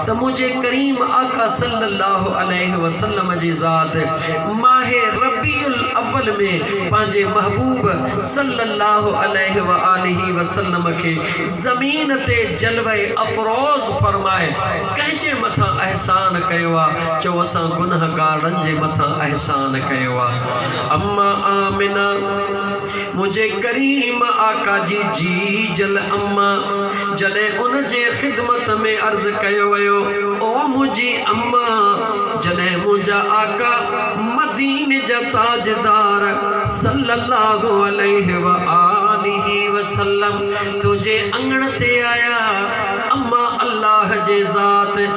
ته منهنجي ڪريم آقا صلّي اللّٰه عليه وسلّم جي ذات ماهه ربيع الاول ۾ پنهنجي محبوب صلّي اللّٰه عليه واٰله وسلّم کي زمين تي جلوه افروز فرمائي ڪنهن جي مٿان احسان ڪيو آ چئو اسان گنهگارن جي مٿان احسان ڪيو آ امّا آمنه منهنجي ڪريم آقا جي جيجل اما جڏهن ان جي خدمت ۾ عرض ڪيو ويو، او منهنجي اما! جڏهن منهنجا آقا مديني جا تاجدار صلّي اللّٰه عليه واٰله وسلّم تنهنجي اڱڻ تي آيا، اما! الله جي ذات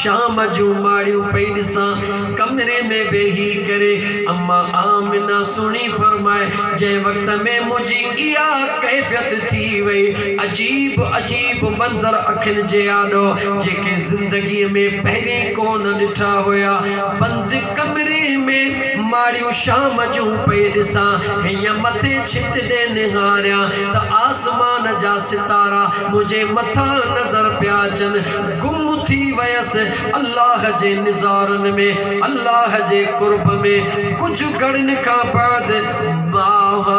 شام جون ماڙيون پئي ڏسان، ڪمري ۾ ويهي ڪري اما آمنه سهڻي فرمائي، جنهن وقت ۾ منهنجي اها ڪيفيت ٿي وئي، عجيب عجيب منظر اکين جي آڏو، جيڪي زندگيء ۾ پهرين ڪونه ڏٺا هيا، بند ڪمري ۾ ماڙيون شام جون پئي ڏسان، هيئن مٿي ڇت ڏي نهاريان ته آسمان جا ستارا منهنجي مٿان نظر پيا اچن، گم ٿي ويس الله جي نظارن ۾ الله جي قرب ۾ ڪجهه گهڙين کان بعد ماهه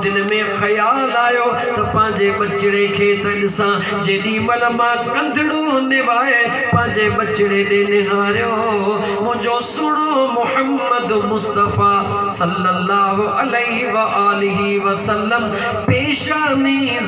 دل ۾ خيال آيو ته پنهنجي ٻچڙي کي ته ڏسان جيڏي مهل مان ڪنڌڙو نوائي پنهنجي ٻچڙي ڏي نهاريو منهنجو سهڻو محمد مصطفيٰ صلّي اللّٰه عليه واٰله وسلّم پيشاني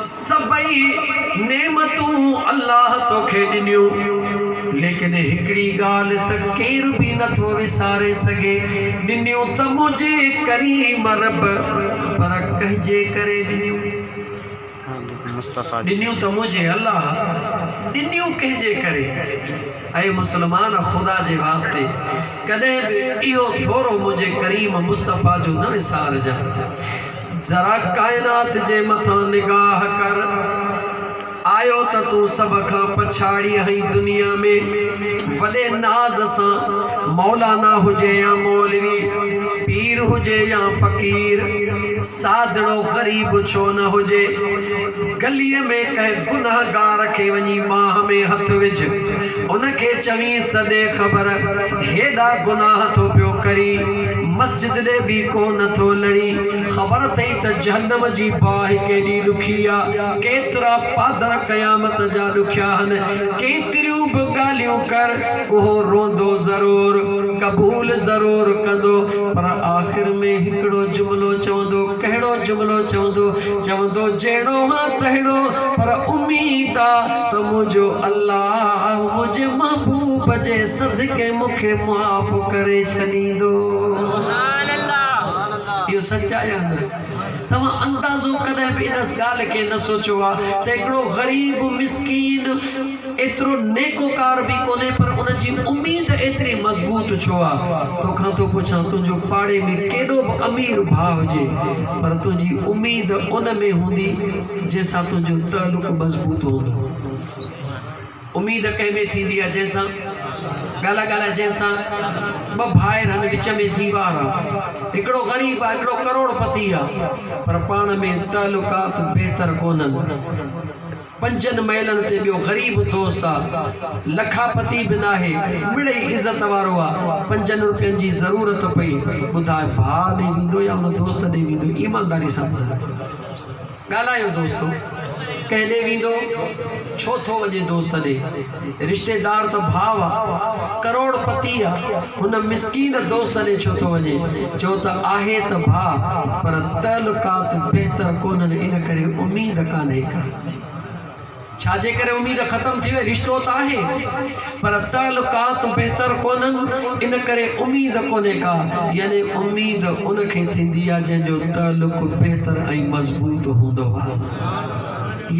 سڀئي نعمتون الله توکي ڏنيون، ليڪن هڪڙي ڳالهه ته ڪير به نٿو وساري سگهي، ڏنيون ته منهنجي ڪريم رب، پر ڪنهن جي ڪري ڏنيون؟ ڏنيون ته منهنجي الله، ڏنيون ڪنهن جي ڪري؟ اي مسلمان! خدا جي واسطي ڪڏهن به اهو ٿورو منهنجي ڪريم مصطفيٰ جو نه وسارجانء. ذرا ڪائنات جي مٿان نگاهه ڪر، آيو ته تون سڀ کان پڇاڙي آهين دنيا ۾، وڏي ناز سان مولانا هجي يا مولوي، پير هجي يا فقير، سادڙو غريب ڇو نه هجي، گليء ۾ ڪنهن گنهگار کي وڃي ٻانهن ۾ هٿ وجهه، ان کي چوينس ته ڏي خبر، هيڏا گناهه ٿو پيو ڪرين، مسجد ڏي به ڪو نه ٿو لڙي، خبر اٿئي ته جهنم جي باهه ڪيڏي ڏکي آ، ڪيترا پادر قيامت جا ڏکيا هن، ڪيتريون به ڳالهيون ڪر، اهو روئندو ضرور، قبول ضرور ڪندو، پر آخر ۾ هڪڙو جملو چوندو، ڪهڙو جملو چوندو؟ چوندو جهڙو هان تهڙو، پر اميد آ. ته منهنجو الله منهنجي محبوب جي صدقي مون کي معاف ڪري ڇڏيندو. اهو سچ آهي يا نه؟ توهان اندازو ڪڏهن به ان ڳالهه کي نه سوچيو آهي ته هڪڙو غريب مسڪين ايترو نيڪوڪار به ڪونهي پر ان جي اميد ايتري مضبوط ڇو آهي؟ تو کان ٿو پڇان تنهنجو پاڙي ۾ ڪيڏو به امير ڀاء هجي پر تنهنجي اميد ان ۾ هوندي جنهن سان تنهنجو تعلق مضبوط هوندو. اميد ڪنهن ۾ ٿيندي آهي جنهن سان ڳالهاء ڳالهاء جنهن سان ٻه ڀائر هن وچ ۾ ديوار آ هڪڙو غريب آ هڪڙو ڪروڙ پتي آ پر پاڻ ۾ تعلقات بهتر ڪونهن پنجن مئلن تي ٻيو غريب دوست آ لکا پتي به ناهي مڙئي عزت وارو آ پنجن روپين جي ضرورت پئي ٻڌاء ڀاء ڏي ويندو يا ان دوست ڏي ويندو ايمانداري سان ٻڌاء. ڳالهايو دوستو ڪنهن ڏي ويندو ڇو ٿو وڃي دوست ڏي رشتيدار ته ڀاء آ ڪروڙ پتي آ هن مسڪين دوست ڏي ڇو ٿو وڃي چو ته آهي ته ڀاء پر تعلقات بهتر ڪونهن ان ڪري اميد ڪانهي ڪا ڇا جي ڪري اميد ختم ٿي وئي رشتو ته آهي پر تعلقات بهتر ڪونهن ان ڪري اميد ڪونهي ڪا يعني اميد ان کي ٿيندي آهي جنهن جو تعلق بهتر ۽ مضبوط هوندو آهي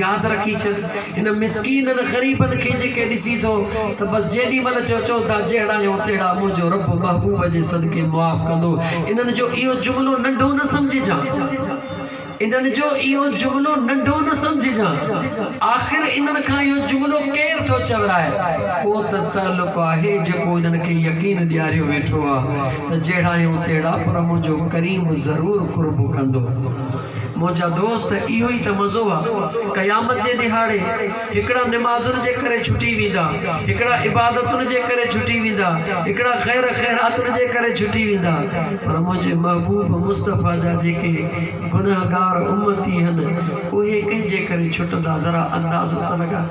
ياد رکي ڇڏ ان مسڪينن غريبن کي جيڪي ڏسي ٿو ته بس جيڏي مهل جو چون ٿا جهڙا آهيون تهڙا منهنجو رب محبوب جي صدقي معاف ڪندو انهن جو اهو جملو ننڍو نه سمجهجان انهن جو اهو جملو ننڍو نه سمجهجان، آخر انهن کان اهو جملو ڪير ٿو چورائي؟ ڪو ته تعلق آهي جيڪو انهن کي يقين ڏياريو ويٺو آ ته جهڙا آهيون تهڙا پر منهنجو ڪريم ضرور قرب ڪندو. منهنجا دوست اهو ئي ته مزو آ قيامت جي ڏهاڙي. هڪڙا نمازن جي ڪري ڇٽي ويندا، هڪڙا عبادتن جي ڪري ڇٽي ويندا، هڪڙا خير خيراتن جي ڪري ڇٽي ويندا، پر منهنجي محبوب مصطفيٰ جا جيڪي گنهگار امتي هن اهي ڪنهن جي ڪري ڇٽندا ذرا اندازو ته لڳاء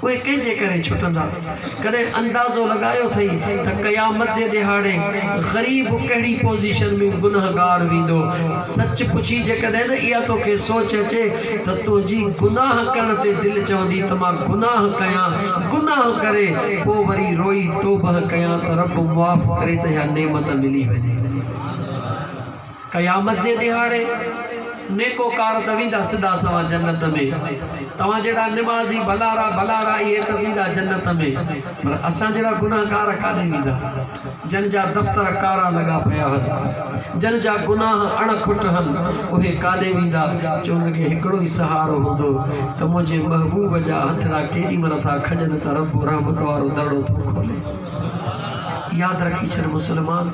اهي ڪنهن جي ڪري ڇٽندا. ڪڏهن اندازو لڳايو اٿئي ته قيامت جي ڏهاڙي غريب ڪهڙي پوزيشن ۾ گنهگار ويندو؟ سچ پڇي جيڪڏهن نه اها توکي سوچ اچي ته تنهنجي گناهه ڪرڻ تي دل چوندي ته مان گناهه ڪيان گناهه ڪري پوء وري روئي توبهه ڪيان ته رب معاف ڪري ته اها نعمت ملي وڃي. قيامت جي ڏيهاڙي نيڪوڪار ته ويندا سدا سنوان جنت ۾، توهان جهڙا نمازي ڀلارا ڀلارا اهي ته ويندا جنت ۾، پر اسان جهڙا گنهگار ڪاڏي ويندا، جن جا دفتر ڪارا لڳا پيا هن، جن جا گناهه اڻ کٽ هن، اهي ڪاڏي ويندا، جو انهن کي هڪڙو ئي سهارو هوندو ته منهنجي محبوب جا هٿڙا ڪيڏي مهل ٿا کڄن ته رب رحمت وارو درڙو ٿو کولي. ياد رکي ڇڏ مسلمان!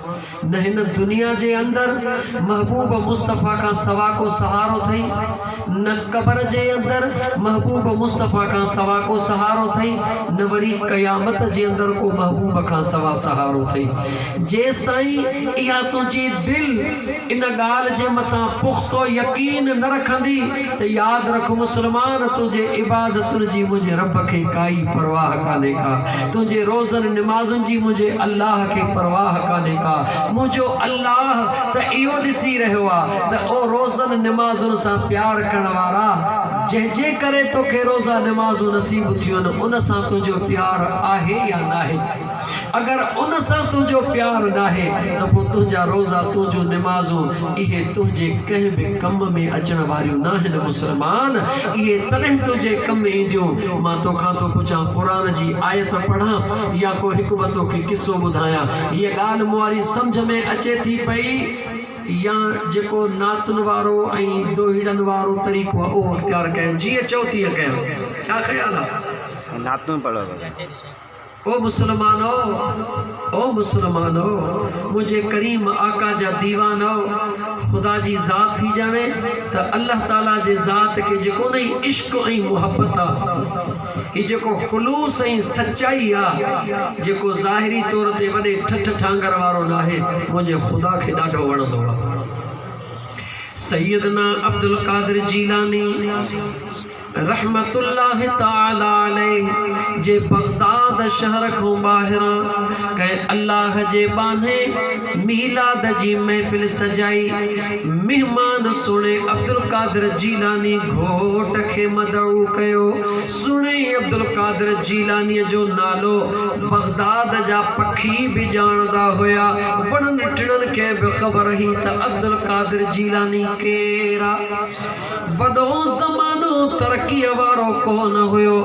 نه هن دنيا جي اندر محبوب مصطفيٰ کان سوا ڪو سهارو ٿئي، نه قبر جي اندر محبوب مصطفيٰ کان سوا ڪو سهارو ٿئي، نه وري قيامت جي اندر ڪو محبوب کان سوا سهارو ٿئي. جيستائين اها تنهنجي دل ان ڳالهه جي مٿان پختو يقين نه رکندي، ته ياد رک مسلمان تنهنجي عبادتن جي منهنجي رب کي ڪائي پرواهه ڪانهي ڪا تنهنجي روزن نمازن جي منهنجي الله کي پرواهه ڪانهي ڪا منهنجو الله ته اهو ڏسي رهيو آ ته او روزن نمازن سان پيار ڪرڻ وارا جنهن جي ڪري توکي روزا نمازون نصيب ٿيون ان سان تنهنجو پيار آهي يا ناهي. اگر ان سان تنهنجو پيار ناهي ته پوء تنهنجا روزا، تنهنجون نمازون، اهي تنهنجي ڪنهن به ڪم ۾ اچڻ واريون ناهن مسلمان! اهي تڏهن تنهنجي ڪم اينديون مان توکان ٿو پڇان قرآن جي آيت پڙهان يا ڪو هڪ ٻه توکي قصو ٻڌايان. هيء ڳالهه مون واري سمجهه ۾ اچي ٿي پئي يا جيڪو نعتن وارو ۽ دوهيڙن وارو طريقو آهي اهو اختيار ڪيان؟ جيئن چئو تيئن ڪيان. ڇا خيال آهي؟ نعتون پڙهو. او مسلمانؤ! او مسلمانؤ! منهنجي ڪريم آقا جا ديوانؤ! خدا جي ذات ٿي ڄاڻي ته الله تعاليٰ جي ذات کي جيڪو نه هي عشق ۽ محبت آ، هي جيڪو خلوص ۽ سچائي آ، جيڪو ظاهري طور تي وڏي ٺٺ ٺانگر وارو ناهي، منهنجي خدا کي ڏاڍو وڻندو آ. سيدنا عبدالقادر جيلاني. رحمة الله تعالٰي عليه جي بغداد شهر کان ٻاهران ڪنهن الله جي ٻانهي ميلاد جي محفل سجائي، مهمان سهڻي عبدالقادر جيلاني گهوٽ کي مدعو ڪيو، سهڻي عبدالقادر جيلانيء جو نالو بغداد جا پکي به ڄاڻندا هيا، وڻن ٽڻن کي به خبر هئي ته عبدالقادر جيلاني ڪير آ. وڏو زمانو ترقيء وارو ڪونه هيو،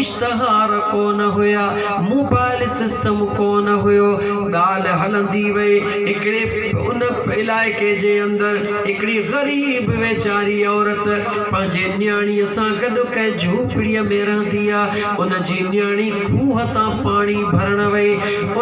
اشتهار ڪونه هيا، موبائل سسٽم ڪونه هيو. ڳالهه هلندي وئي، هڪڙي ان علائقي جي اندر هڪڙي غريب ويچاري عورت پنهنجي نياڻيء سان گڏ ڪنهن جهوپڙيء ۾ رهندي آ، ان جي نياڻي، کوهه تان پاڻي ڀرڻ وئي،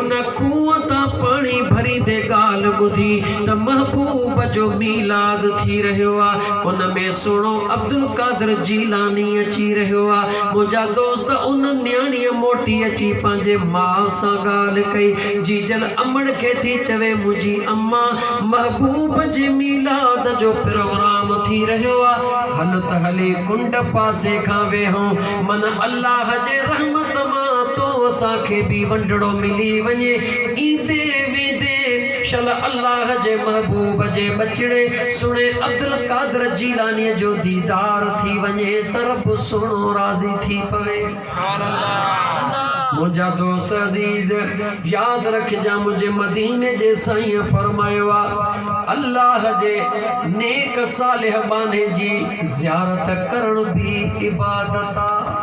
ان کوهه تان پاڻي ڀريندي ڳالهه ٻڌي ته محبوب جو ميلاد ٿي رهيو آ، ان ۾ سهڻو عبدالقادر جيلاني اچي رهيو آ، منهنجا دوست ان نياڻيء موٽي اچي پنهنجي ماء سان ڳالهه ڪئي، جيجل امڙ کي ٿي چوي منهنجي اما محبوب جي ميلاد جو پروگرام ٿي رهيو آ، هل ته هلي ڪنڊ پاسي کان ويهون، من الله جي رحمت مان تو اسان کي به ونڊڙو ملي وڃي ايندي ويندي شل الله جي محبوب جي ٻچڙي سھڻي عبدالقادر جيلاني جو ديدار ٿي وڃي ته رب سھڻو راضي ٿي پوي منھنجا دوست عزيز ياد رکجان منھنجي مديني جي سائين فرمايو آ الله جي نيڪ صالح ٻانھي جي زيارت ڪرڻ به عبادت آ.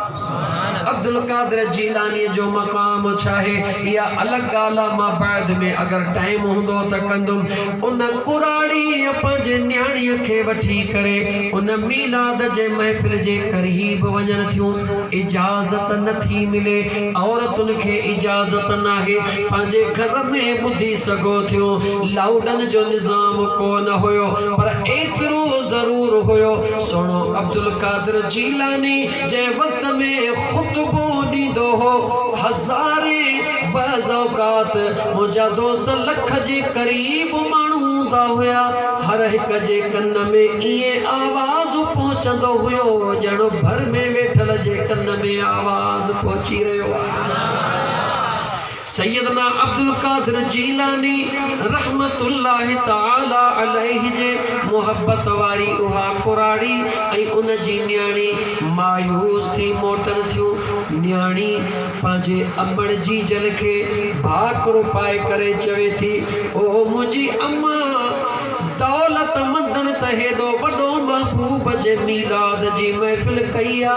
عبدالقادر جيلانيء جو مقام ڇاهي اها الڳ ڳالهه آ، مان بعد ۾ اگر ٽائيم هوندو ته ڪندم. ان ڪراڙيء پنهنجي نياڻيء کي وٺي ڪري ان ميلاد جي محفل جي قريب وڃن ٿيون. اجازت نه ٿي ملي. عورتن کي اجازت ناهي. پنهنجي گهر ۾ ٻڌي سگهو ٿيون. لائوڊن جو نظام ڪو نه هيو پر ايترو ايترو ضرور هيو سهڻو عبدالقادر جيلاني جنهن وقت ۾ خطبو ڏيندو هو هزارين بعض اوقات منهنجا دوست لک جي قريب ماڻهو هوندا هيا هر هڪ جي ڪن ۾ ائين آواز پهچندو هيو ڄڻ ڀر ۾ ويٺل جي ڪن ۾ آواز پهچي رهيو آهي. سيدنا عبدالقادر جيلاني رحمة الله تعاليٰ عليه جي محبت واري اها ڪراڙي ۽ ان جي نياڻي مايوس ٿي موٽن ٿيون. نياڻي پنهنجي امڙ جيجل کي ڀاڪرو پائي ڪري چوي ٿي، او منهنجي اما! دولتمندن ته هيڏو وڏو محبوب جي ميلاد جي محفل ڪئي آ.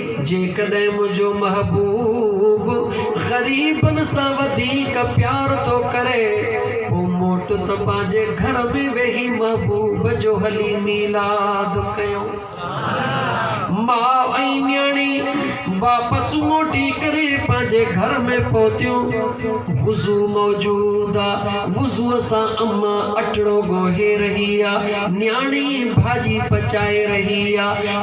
جيڪڏهن منهنجو محبوب غريبن سان وڌيڪ پيار ٿو ڪري پوء موٽ ته پنهنجي گهر ۾ ويهي محبوب جو هلي ميلاد ڪيو. ماء ۽ نياڻي واپس موٽي ڪري پنهنجي گهر ۾ پهتيون. وضو موجود آ. وضوء سان اما اٽڙو ڳوهي رهي آ. نياڻي ڀاڄي پچائي رهي آ.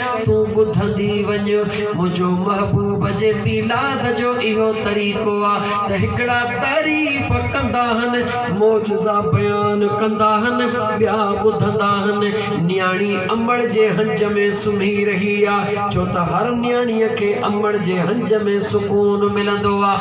ڇا تون ٻڌندي وڃ، منهنجو محبوب جي ميلاد جو اهو طريقو آ ته هڪڙا تعريف ڪندا هن، معجزا بيان ڪندا هن، ٻيا ٻڌندا هن. نياڻي امڙ جي هنج ۾ سمهي رهي آ، ڇو ته هر نياڻيء کي امڙ جي هنج ۾ سڪون ملندو آ.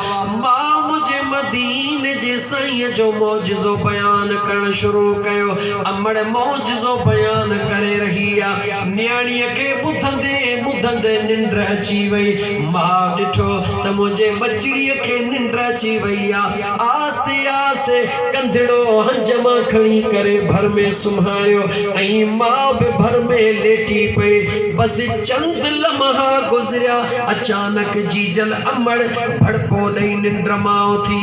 ماء منهنجي مديني جي سائينء جو معجزو بيان ڪرڻ شروع ڪيو. امڙ معجزو بيان ڪري رهي آ. نياڻيء کي ٻڌندي ٻڌندي ننڊ اچي وئي. ماء ڏٺو ته منهنجي ٻچڙيء کي ننڊ اچي وئي آ. آهستي آهستي ڪنڌڙو هنج مان کڻي ڪري ڀر ۾ سمهاريو ۽ ماء به ڀر ۾ ليٽي پئي. بس چند لمحا گذريا. اچانڪ جيجل امڙ ڀڙڪو ڏئي ننڊ مان اٿي.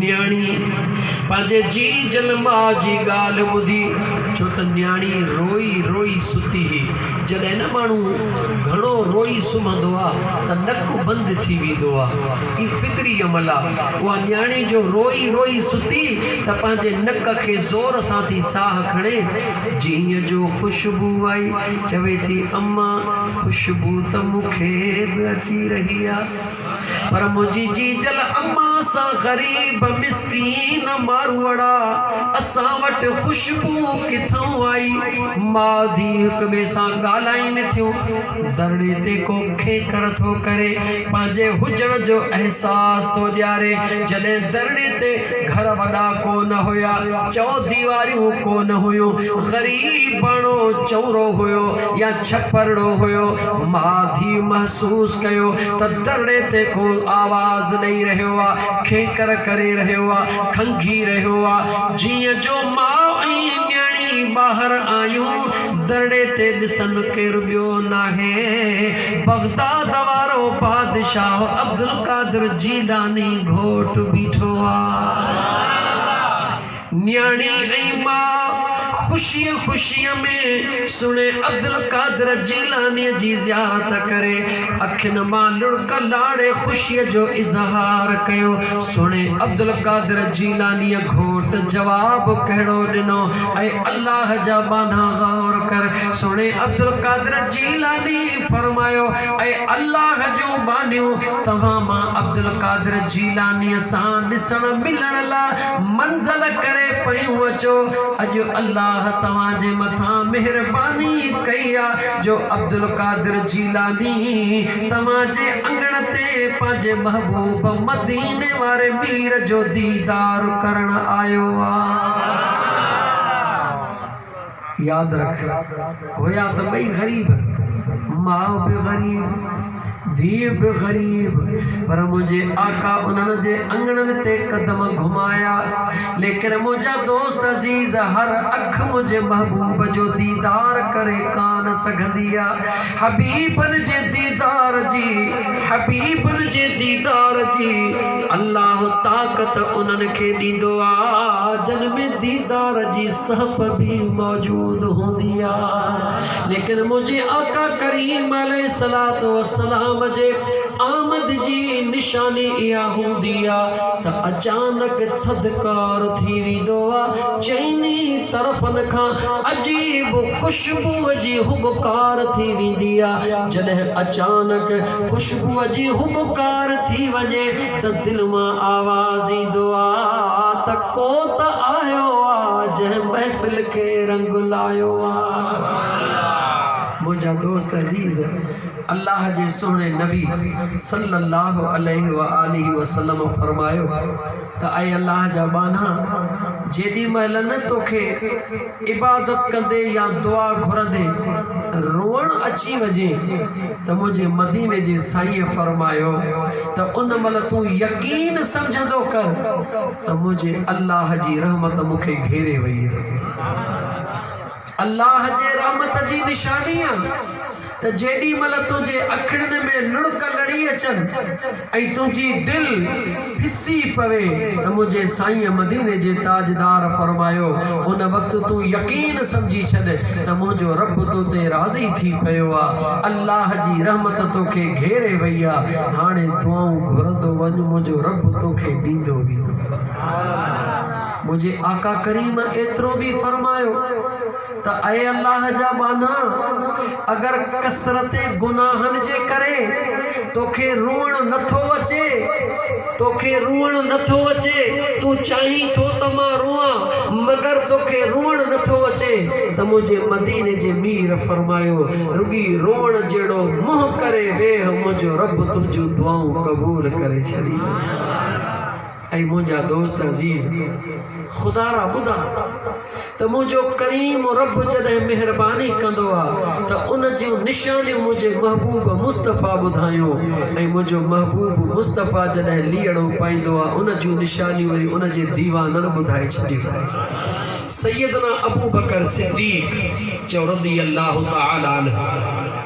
نياڻي پنهنجي جي جن ماء جي ڳالهه ٻڌي ڇو ته نياڻي روئي روئي ستي هئي. جڏهن نه ماڻهو گهڻو روئي سمهندو آ ته نڪ بند ٿي ويندو آ. هي فطري عمل آ. اها نياڻي جو روئي روئي ستي ته پنهنجي نڪ کي زور سان ٿي ساهه کڻي جيئن جو خوشبو آئي. چوي ٿي امان خوشبو ته مون کي به اچي رهي آ. پر منهنجي جيجل اما سان غريب مسڪين ماروئڙا اسان وٽ خوشبو ڪٿئون آئي. ماء ڌيء هڪ ٻئي سان ڳالهائين ٿيون. ڌرڻي تي ڪو کينکر ٿو ڪري، پنهنجي هجڻ جو احساس ٿو ڏياري. جڏهن ڌرڻي تي گهر وڏا ڪو نه هيا، چؤديواريون ڪو نه هيون، غريب ٻانهو چؤرو هيو يا ڇپرڙو هيو، مان ڀي محسوس ڪيو ته درڙي تي ڪو آواز ڏئي رهيو آ، کينڪر ڪري رهيو آ، کنگهي رهيو آ. جيئن جو ماء ۽ نياڻي ٻاهر آيون، درڙي تي ڏسن ڪير ٻيو ناهي، بغداد وارو بادشاهه عبدالقادر جيلاني گهوٽ بيٺو آ. نياڻي ۽ ماء خوشيء خوشيء ۾ سھڻي عبدالقادر جيلانيء جي زيارت ڪري اکين مان لڙڪ لاڙي خوشيء جو اظھار ڪيو. سھڻي عبدالقادر جيلانيء گھوٽ جواب ڪھڙو ڏنو؟ اي الله جا ٻانھا غور ڪر. سھڻي عبدالقادر جيلانيء فرمايو، اي الله جون ٻانھيون! توھان مان عبدالقادر جيلانيء سان ڏسڻ ملڻ لا منزل ڪري پيون اچو اڄ الله توهان جي مٿان مهرباني ڪئي آ جو عبدالقادر جيلاني توهان جي اڱڻ تي پنهنجي محبوب مديني واري مير جو ديدار ڪرڻ آيو آ. ياد رک هيا ته ٻئي غريب، ماء به غريب، ڌيء به غريب، پر منهنجي آقا انهن جي اڱڻن تي قدم گهمايا، ليڪن منهنجا دوست عزيز هر اک منهنجي محبوب جو ديدار ڪري ڪانه سگهندي آ، حبيبن جي ديدار جي، حبيبن جي ديدار جي، الله طاقت انهن کي ڏيندو آ، جن ۾ ديدار جي. سهپ به موجود هوندي آ ليڪن منهنجي آقا ڪريم عليه الصلوة والسلام جي آمد جي نشاني اها هوندي آ ته اچانڪ ٿڌڪار ٿي ويندو آ چئني طرفن کان عجيب خوشبوء جي هٻڪار ٿي ويندي آ جڏهن اچانڪ خوشبوء جي هٻڪار ٿي وڃي ته دل مان آواز ايندو آ ته ڪو ته آيو آ جنهن محفل کي رنگ لايو آ. منهنجا دوست عزيز الله جي سهڻي نبي صلّي اللّٰه عليه واٰله وسلّم فرمايو ته اي الله جا ٻانها جيڏي مهل نه توکي عبادت ڪندي يا دعا گهرندي روئڻ اچي وڃي ته منهنجي مديني جي سائينء فرمايو ته ان مهل تون يقين سمجهندو ڪر ته منهنجي الله جي رحمت مون کي گهيري وئي آهي. الله جي رحمت جي نشانيء ته جيڏي مھل تنھنجي اکڙين ۾ لڙڪ لڙي اچن ۽ تنھنجي دل پسي پوي ته منھنجي سائين مديني جي تاجدار فرمايو ان وقت تون يقين سمجھي ڇڏ ته منھنجو رب تو تي راضي ٿي پيو آ الله جي رحمت تو کي گھيري وئي آ ھاڻي دعائون گھرندو وڃ منھنجو رب تو کي ڏيندو ويندو منھنجي آقا ڪريم ايترو به فرمايو. ته اي الله جا ٻانها! اگر ڪثرت گناهن جي ڪري توکي روئڻ نه ٿو اچي، توکي روئڻ نه ٿو اچي، تون چاهين ٿو ته مان روئان، مگر توکي روئڻ نه ٿو اچي، ته منهنجي مديني جي مير فرمايو، رڳي روئڻ جهڙو منهن ڪري ويهه، منهنجو رب تنهنجون دعائون قبول ڪري ڇڏيندو. اي منهنجا دوست عزيز! خدا را ٻڌا ته منهنجو ڪريم رب جڏهن مهرباني ڪندو آ ته ان جون نشانيون منهنجي محبوب مصطفيٰ ٻڌايون ۽ منهنجو محبوب مصطفيٰ جڏهن ليئڙو پائيندو آ ان جون نشانيون وري ان جي ديوانن ٻڌائي ڇڏيون. سيدنا ابوبڪر صديق چيو رضي الله تعالٰي عنه!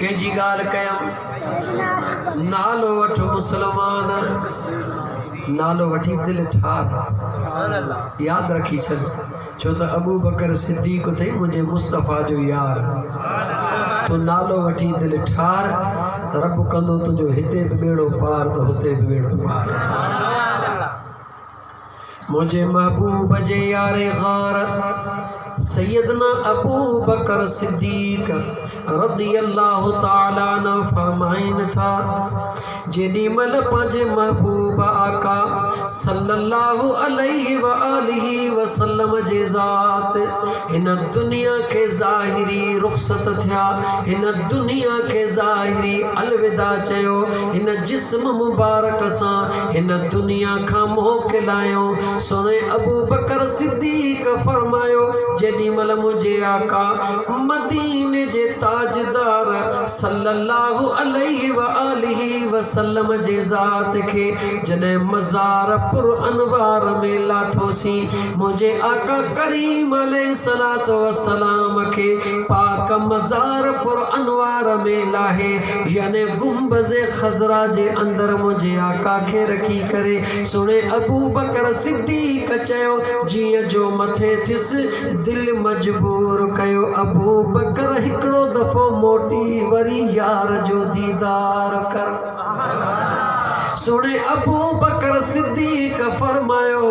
ڪنهن جي ڳالهه ڪيم نالو وٺ مسلمان نالو وٺي دل ٺار ياد رکي ڇڏ ڇو ته ابو بڪر صديق اٿئي منهنجي مصطفيٰ جو يار تو نالو وٺي دل ٺار ته رب ڪندو تنهنجو هتي به ٻيڙو پار ته هتي به ٻيڙو پار منهنجي محبوب جي يار غار سيدنا ابوبڪر صديق رضي الله تعالٰي عنه فرمائين ٿا، جيڏي مهل پنهنجي محبوب آقا صلّي اللّٰه عليه واٰله وسلّم جي ذات هن دنيا کي ظاهري رخصت ٿيا، هن دنيا کي ظاهري الوداع چيو، هن جسم مبارڪ سان هن دنيا کان منهن کلايو، سهڻي ابوبڪر صديق فرمايو، جيڏي مهل منهنجي آقا مديني جي تاجدار صلّي اللّٰه عليه واٰله وسلّم جي ذات کي جڏهن مزار پر انوار ۾ لاٿوسين، منهنجي آقا ڪريم عليه الصلوٰة والسلام کي پاڪ مزار پر انوار ۾ لاهي، يعني گنبذ خضرا جي اندر منهنجي آقا کي رکي ڪري سڻي ابوبڪر صديق چيو جيئن جو مٿي ٿيس دل مجبور ڪيو ابوبڪر هڪڙو دفعو موٽي وري يار جو ديدار ڪر سڻي ابوبڪر صديق فرمايو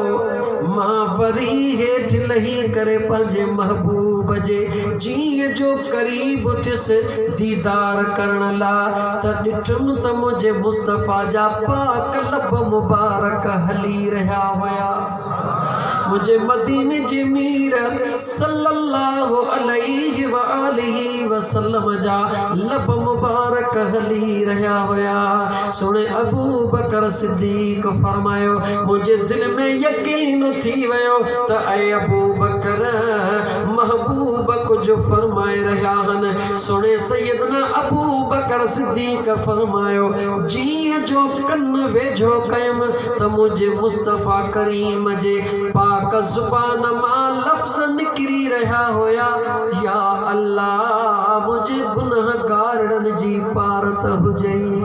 مان وري هيٺ لهي ڪري پنهنجي محبوب جي جيء جو قريب ٿيس ديدار ڪرڻ لا ته ڏٺم ته منهنجي مصطفيٰ جا پاڪ لب مبارڪ هلي رهيا هيا. منهنجي مديني جي مير صلّي اللّٰه عليه واٰله وسلّم جا لب مبارڪ هلي رهيا هيا. سهڻي ابوبڪر صدّيق فرمايو، منهنجي دل ۾ يقين ٿي ويو ته اي ابوبڪر! محبوب ڪجهه فرمائي رهيا هن سڻي سيدنا ابوبڪر صديق فرمايو جيئن جو ڪن ويجهو ڪيم ته منهنجي مصطفيٰ ڪريم جي پاڪ زبان مان لفظ نڪري رهيا هيا يا الله منهنجي گنهگارڙن جي پارت هجئي.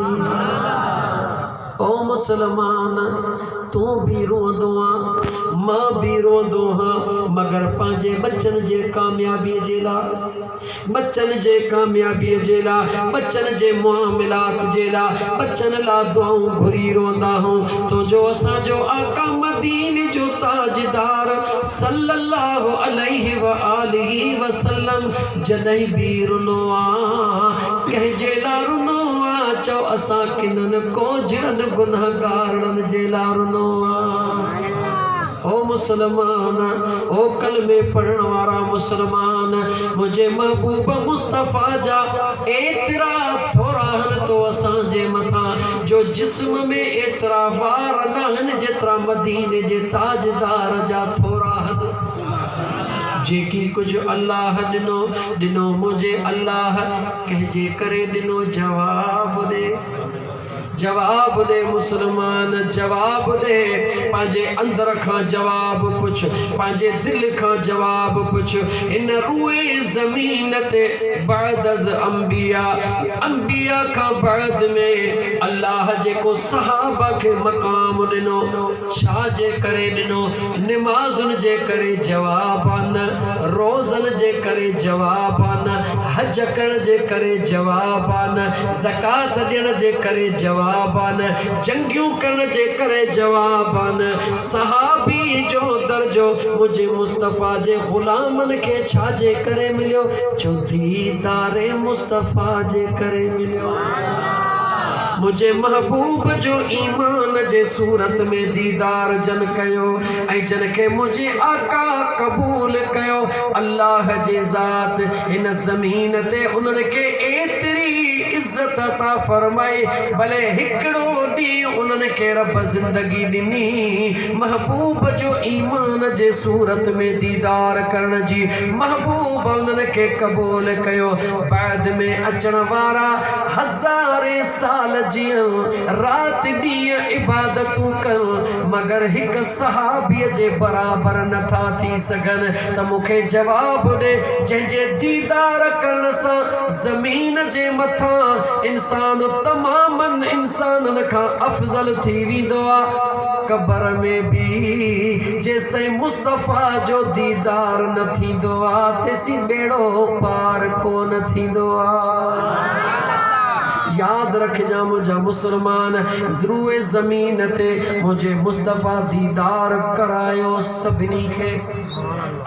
او مسلمان! تون به روئندو آن، مان به روئندو آهيان، مگر پنهنجي ٻچن جي ڪاميابيء جي لاء. ٻچن جي ڪاميابيء جي لاء، ٻچن جي معاملات جي لاء، ٻچن لاء دعائون گهري روئندا آهيون، تو جو اسان جو آقا مديني جو تاجدار صلّي اللّٰه عليه واٰله وسلّم جڏهن به رنو آ ڪنهن جي لا رنو آ چئو اسان ڪنن ڪوجهرن گنهگارڙن جي لا رنو آ او مسلمان او ڪلمي پڙهڻ وارا مسلمان منهنجي محبوب مصطفي جا ايترا ٿورا هن تو اسان جي مٿان جو جسم ۾ ايترا وار ناهن جيترا مديني جي تاجدار جا ٿورا هن. جيڪي ڪجهه الله ڏنو، ڏنو منهنجي الله، ڪنهن جي ڪري ڏنو جواب ڏي، جواب ڏي مسلمان جواب ڏي، پنهنجي اندر کان جواب پڇ، پنهنجي دل کان جواب پڇ، هن روئي زمين تي بعداز انبياء، انبياء کان بعد ۾ الله جيڪو صحابه کي مقام ڏنو. ڇا جي ڪري ڏنو؟ نمازن جي ڪري جواب آ نه، روزن جي ڪري جواب آ نه، حج ڪرڻ جي ڪري جواب آ نه، زڪوات ڏيڻ جي ڪري جواب آ نه، جنگيون ڪرڻ جي ڪري جواب آ نه، صحابي جو درجو منهنجي مصطفيٰ جي غلامن کي ڇا جي ڪري مليو؟ جو ديدار مصطفيٰ جي ڪري مليو. منهنجي محبوب جو ايمان جي صورت ۾ ديدار جن ڪيو ۽ جن کي منهنجي آقا قبول ڪيو الله جي ذات هن زمين تي انهن کي ايتري عزت عطا فرمائي ڀلي هڪڙو ڏينهن انهن کي رب زندگي ڏني محبوب جو ايمان جي صورت ۾ ديدار ڪرڻ جي محبوب انهن کي قبول ڪيو بعد ۾ اچڻ وارا هزارين سال جيئن، رات ڏينهن عبادتون ڪن، مگر هڪ صحابيء جي برابر نه ٿا ٿي سگهن ته مون کي جواب ڏي، جنهن جي ديدار ڪرڻ سان زمين جي مٿان انسان تمام انسانن کان افضل ٿي ويندو آ. قبر ۾ به جيستائين مصطفيٰ جو ديدار نه ٿيندو آ، تيسين ٻيڙو پار ڪونه ٿيندو آ. ياد رکجان منهنجا مسلمان روئي زمين تي منهنجي مصطفيٰ ديدار ڪرايو سڀني کي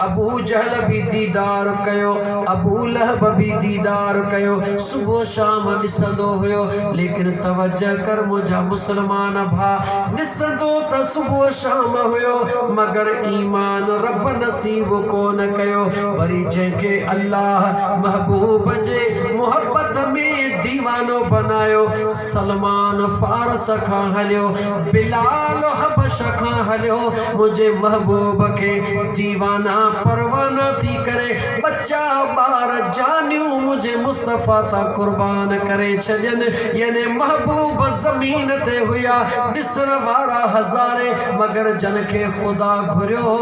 ابو جهل به ديدار ڪيو ابو لهب به ديدار ڪيو صبح شام ڏسندو هيو ليڪن توجه ڪر منهنجا مسلمان ڀا ڏسندو ته صبح شام هيو مگر ايمان رب نصيب ڪونه ڪيو وري جنهن کي الله محبوب جي محبت ۾ ديوانو بنايو سلمان فارس کان هليو بلال حبش کان هليو منهنجي محبوب کي ديوانا پروانا ٿي ڪري ٻچا ٻار جانيون منهنجي مصطفيٰ تان قربان ڪري ڇڏين يعني محبوب زمين تي هيا ڏسڻ وارا هزارين مگر جن کي خدا گهريو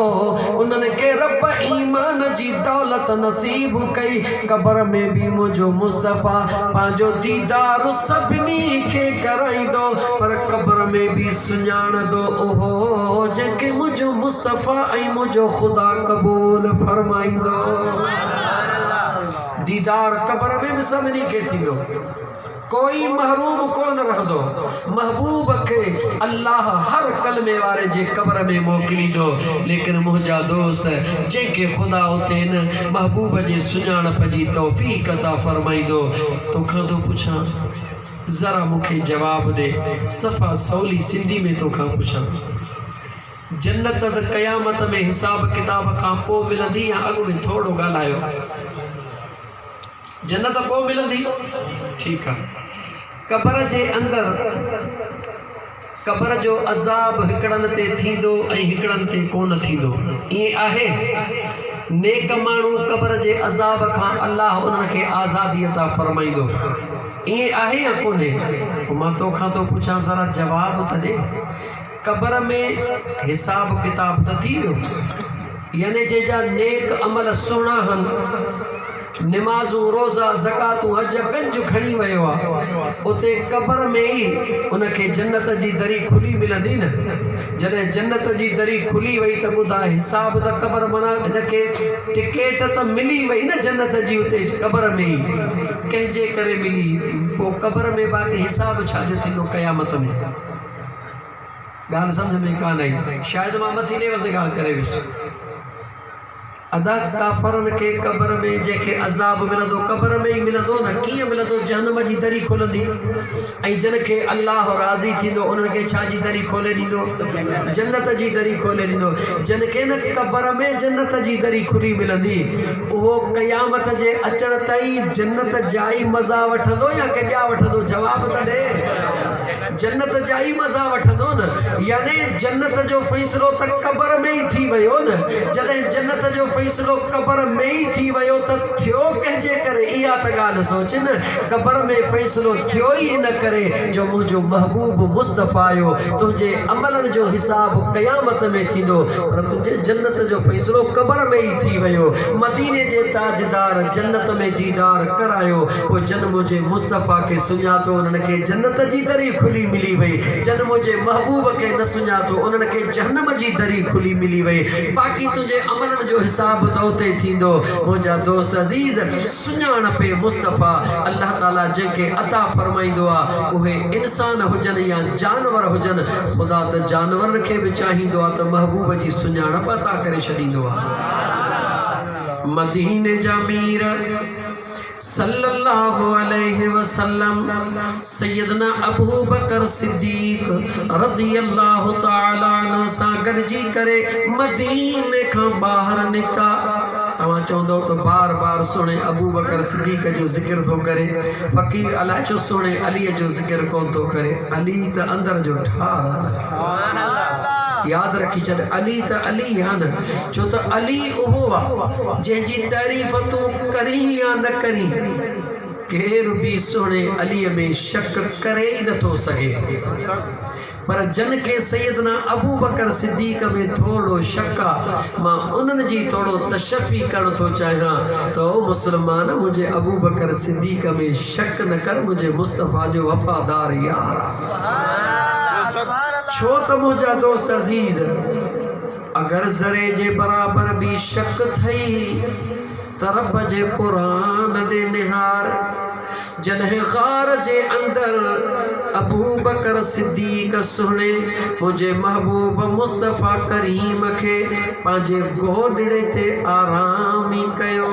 انهن کي رب ايمان جي دولت نصيب ڪئي قبر ۾ به منهنجو مصطفيٰ پنهنجو ديدار سڀني کي ڪرائيندو پر قبر ۾ به سڃاڻندو اهو جنهن کي منهنجو مصطفيٰ ۽ منهنجو خدا قبول فرمائيندو. ديدار قبر ۾ به سڀني کي ٿيندو. ڪوئي محروم ڪونه رهندو. محبوب کي الله هر ڪلمي واري جي قبر ۾ موڪليندو ليڪن منهنجا دوست جنهن کي خدا اتي ان محبوب جي سڃاڻپ جي توفيق عطا فرمائيندو توکان ٿو پڇان ذرا مون کي جواب ڏي صفا سولي سنڌي ۾ توکان پڇان جنت ته قيامت ۾ حساب ڪتاب کان پوء ملندي يا اڳ ۾ ٿورڙو ڳالهايو. جنت پوء ملندي؟ ٺيڪ آ. قبر جي اندر قبر جو عذاب هڪڙن تي ٿيندو ۽ هڪڙن تي ڪونه ٿيندو ائين آهي؟ نيڪ ماڻهو قبر جي عذاب کان الله انهن کي آزادي عطا فرمائيندو ائين آهي يا ڪونهي؟ پوء مان تو کان ٿو پڇان ذرا جواب ته ڏي. قبر ۾ حساب ڪتاب ته ٿي ويو، يعني جنهن جا نيڪ عمل سهڻا هن، نمازون، روزا، زڪواتون، حج، ڪنج کڻي ويو آ، اتي قبر ۾ ئي ان کي جنت جي دري کلي ملندي نه، جڏهن جنت جي دري کلي وئي ته ٻڌاء حساب ته قبر معنيٰ هن کي ٽڪيٽ ته ملي وئي نه جنت جي اتي قبر ۾ ئي ڪنهن جي ڪري ملي، پوء قبر ۾ باقي حساب ڇا جو ٿيندو قيامت ۾. ڳالهه سمجهه ۾ ڪانه آئي. شايد مان مٿي ليول تي ڳالهه ڪري ويس. ادا ڪافرن کي قبر ۾ جنهن کي عذاب ملندو قبر ۾ ئي ملندو نه ڪيئن ملندو جهنم جي دري کلندي ۽ جن کي الله راضي ٿيندو انهن کي ڇا جي دري کولي ڏيندو جنت جي دري کولي ڏيندو جن کي نه قبر ۾ جنت جي دري کلي ملندي اهو قيامت جي اچڻ تائين جنت جا ئي مزا وٺندو يا ڪي ٻيا وٺندو جواب ته ڏي. جنت جا ئي مزا وٺندو نه يعني جنت جو فيصلو ته قبر ۾ ئي ٿي ويو نه جڏهن جنت جو فيصلو قبر ۾ ئي ٿي ويو ته ٿيو ڪنهن جي ڪري اها ته ڳالهه سوچ نه قبر ۾ فيصلو ٿيو ئي ان ڪري جو منهنجو محبوب مصطفيٰ تنهنجي عملن جو حساب قيامت ۾ ٿيندو پر تنهنجي جنت جو فيصلو قبر ۾ ئي ٿي ويو مديني جي تاجدار جنت ۾ ديدار ڪرايو پوء جن منهنجي مصطفيٰ کي سڃاتو انهن کي جنت جي دري کلي ملي وئي، جن منهنجي محبوب کي نه سڃاتو انهن کي جهنم جي دري کلي ملي وئي، باقي تنهنجي عملن جو حساب به ته اتي ٿيندو، منهنجا دوست عزيز! سڃاڻپ مصطفيٰ الله تعالي جنهن کي عطا فرمائيندو آهي، اهي انسان هجن يا جانور هجن، خدا ته جانورن کي به چاهيندو آهي ته محبوب جي سڃاڻپ عطا ڪري ڇڏيندو آهي. مديني جا مير! صلّي اللّٰه عليه وسلّم سيّدنا ابوبڪر صدّيق رضي اللّٰه تعالٰي عنه سان گڏجي ڪري مديني کان ٻاهر نڪتا. توهان چوندؤ ته بار بار سهڻي ابوبڪر صدّيق جو ذڪر ٿو ڪري فقير الاء ڇو سهڻي علي جو ذڪر ڪونه ٿو ڪري. علي ته اندر جو ٺار آهي. ياد رکي ڇڏ علي ته علي ئي آ نه ڇو ته علي اهو آ جنهن جي تعريف تون ڪرين يا نه ڪرين ڪير به سهڻي علي ۾ شڪ ڪري ئي نه ٿو سگهي پر جن کي سيدنا ابوبڪر صديق ۾ ٿورڙو شڪ آ مان انهن جي ٿورڙو تشفي ڪرڻ ٿو چاهيان ته او مسلمان منهنجي ابوبڪر صديق ۾ شڪ نه ڪر منهنجي مصطفيٰ جو وفادار يار آ. ڇو ته منهنجا دوست عزيز، اگر ذري جي برابر به شڪ ٿئي ته رب جي قرآن ڏي نهار. جڏهن غار جي اندر ابوبڪر صديق سهڻي منهنجي محبوب مصطفيٰ ڪريم کي پنهنجي گودڙي تي آرام ئي ڪيو.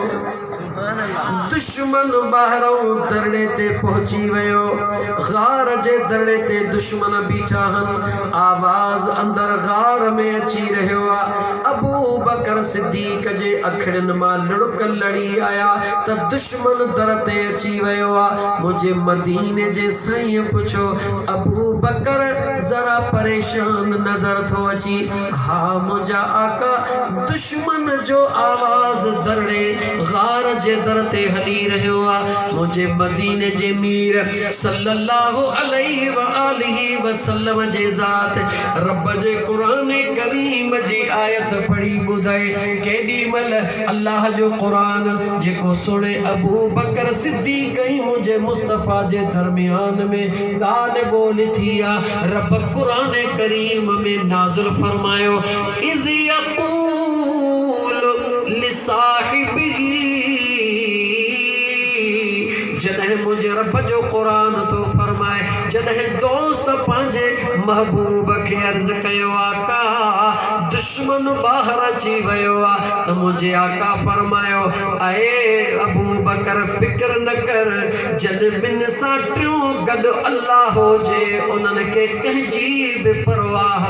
دشمن ٻاهرئون درڙي تي پهچي ويو. غار جي درڙي تي دشمن بيٺا هن. آواز اندر غار ۾ اچي رهيو آ. ابوبڪر صديق جي اکڙين مان لڙڪ لڙي آيا ته دشمن در تي اچي ويو آ. منهنجي مديني جي سائينء پڇيو. ابوبڪر ذرا پريشان نظر ٿو اچي. ها منهنجا آقا! دشمن جو آواز درڙي غار جي در تي هلي رهيو آ، منهنجي مديني جي مير صلّي اللّٰه عليه واٰله وسلّم جي ذات ربّ جي قرآن ڪريم جي آيت پڙهي ٻڌائي، ڪيڏي مهل الله جو قرآن جيڪو سهڻي ابو بڪر صدّيق ۽ منهنجي مصطفٰي جي درميان ۾ ڳالهه ٻولهه ٿي آ، ربّ قرآن ڪريم ۾ نازل فرمايو. اذ يقول لصاحبه جڏهن منهنجي رب جو قرآن ٿو فرمائي جڏهن دوست پنهنجي محبوب کي عرض ڪيو آقا دشمن ٻاهر اچي ويو آ ته منهنجي آقا فرمايو اي ابوبڪر فڪر نه ڪر جن ٻن سان ٽيون گڏ الله هجي انهن کي ڪنهن جي به پرواهه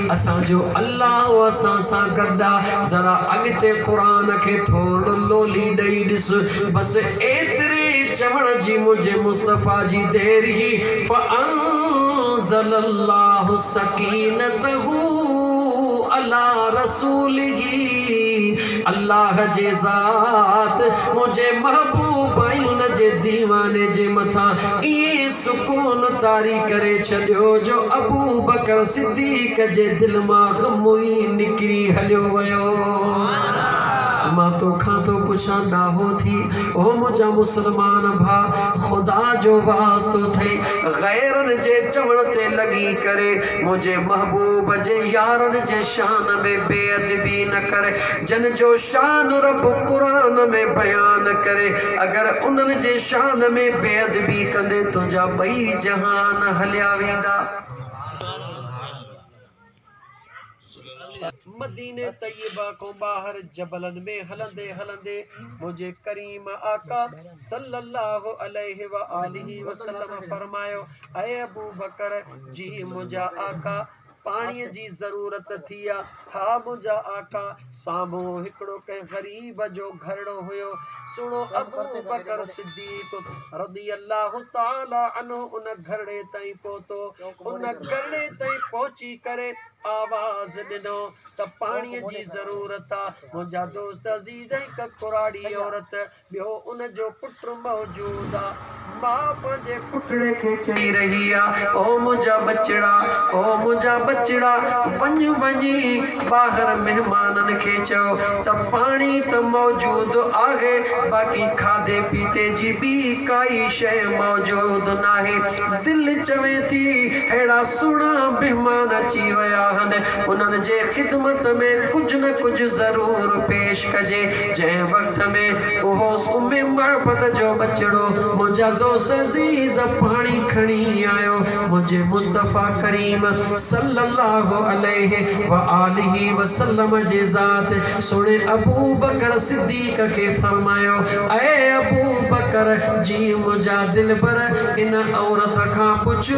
اسان جو الله اسان سان گڏ آ ذرا اڳتي قرآن کي ٿورڙ لولي ڏئي ڏس بس ايتري چوڻ جي منهنجي مصطفيٰ جي دير هي فانزل الله سڪينته علي رسوله الله جي ذات منهنجي محبوب ۽ ان جي ديواني جي مٿان ائين سڪون طاري ڪري ڇڏيو جو ابوبڪر صديق جي دل مان غم ئي نڪري هليو ويو. مان تو کان ٿو پڇان ڏاهو ٿي، او منهنجا مسلمان ڀاء، خدا جو واسطو ٿئي، غيرن جي چوڻ تي لڳي ڪري، منهنجي محبوب جي يارن جي شان ۾ بي ادبي نه ڪر، جن جو شان رب قرآن ۾ بيان ڪري، اگر انهن جي شان ۾ بي ادبي ڪندين تنهنجا ٻئي جهان هليا ويندا. مديني طيبه کان ٻاهر جبلن ۾ هلندي هلندي منهنجي ڪريم آقا صلي الله عليه واٰله وسلم فرمايو، اي ابوبڪر جي منهنجا آقا پاڻيء جي ضرورت ٿي آ، ها منهنجا آقا! سامهون هڪڙو ڪنهن غريب جو گهرڙو هيو. سهڻو ابوبڪر صديق رضي الله تعاليٰ عنه ان گهرڙي تائين پهتو. ان گهرڙي تائين پهچي ڪري آواز ڏنو ته پاڻيء جي ضرورت آ. منهنجا دوست عزيز هڪ ڪراڙي عورت ٻيو ان جو پٽ موجود آ. ماء پنهنجي پٽڙي کي چئي رهي آ، او منهنجا ٻچڙا، او منهنجا ٻچڙا، وڃ وڃي ٻاهر مهمانن کي چئو ته پاڻي ته موجود آهي باقي کاڌي پيتي جي ٻي ڪائي شيء موجود ناهي. دل چوي ٿي ههڙا سهڻا مهمان اچي ويا آهن، انهن جي خدمت ۾ ڪجهه نه ڪجهه ضرور پيش ڪجي، جنهن وقت. وچ ۾ اهو سميم غربت جو ٻچڙو منهنجا دوست عزيز پاڻي کڻي آيو منهنجي مصطفيٰ ڪريم صلّي اللّٰه عليه واٰله وسلّم جي ذات سهڻي ابوبڪر صدّيق کي فرمايو اي ابوبڪر جي منهنجا دلبر ان عورت کان پڇ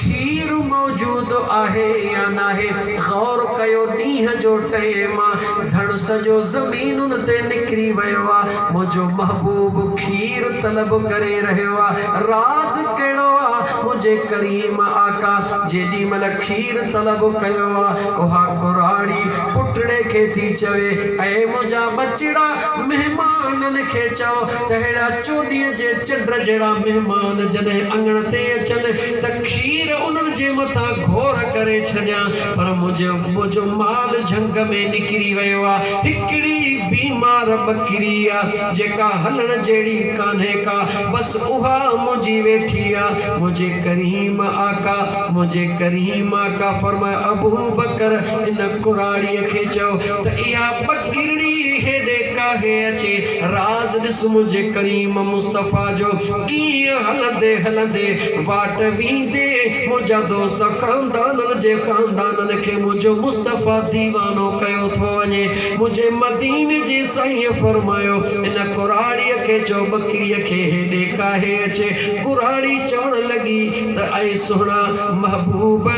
کير موجود آهي يا ناهي غور ڪيو ڏينهن جو ٽئين مان ڌڻ سڄو زمين ٽينن تي نڪري ويو آ منهنجو محبوب کير طلب ڪري رهيو آ راز ڪهڙو آ منهنجي ڪريم آقا جيڏي مهل کير طلب ڪيو آ اها ڪراڙي پٽڙي کي ٿي چوي اي منهنجا ٻچڙا مهمانن کي چئو ته اهڙا چوڏهين جي چنڊ جهڙا مهمان جڏهن اڱڻ تي اچن ته کير انهن جي مٿان گهور ڪري ڇڏيان پر منهنجي ابو جو مال جهنگ ۾ نڪري ويو آ. هڪڙي بيمار ٻڪري آ، جيڪا هلڻ جهڙي ڪانهي ڪا، بس اها منهنجي ويٺي آ. منهنجي ڪريم آقا، منهنجي ڪريم آقا فرمايو، ابوبڪر! ان ڪراڙيء کي چئو ته اها ٻڪرڙي هيڏي ڪاهي اچي راز ڏس منهنجي ڪريم مصطفيٰ جو. ڪيئن هلندي هلندي واٽ ويندي منهنجا دوست خاندانن جي خاندانن کي منهنجو مصطفيٰ ديوانو ڪيو ٿو وڃي منهنجي مديني جي سائينء فرمايو هن ڪراڙيء کي چئو ٻڪريء کي هيڏي ڪاهي اچي ڪراڙي چوڻ لڳي ته اي سهڻا محبوب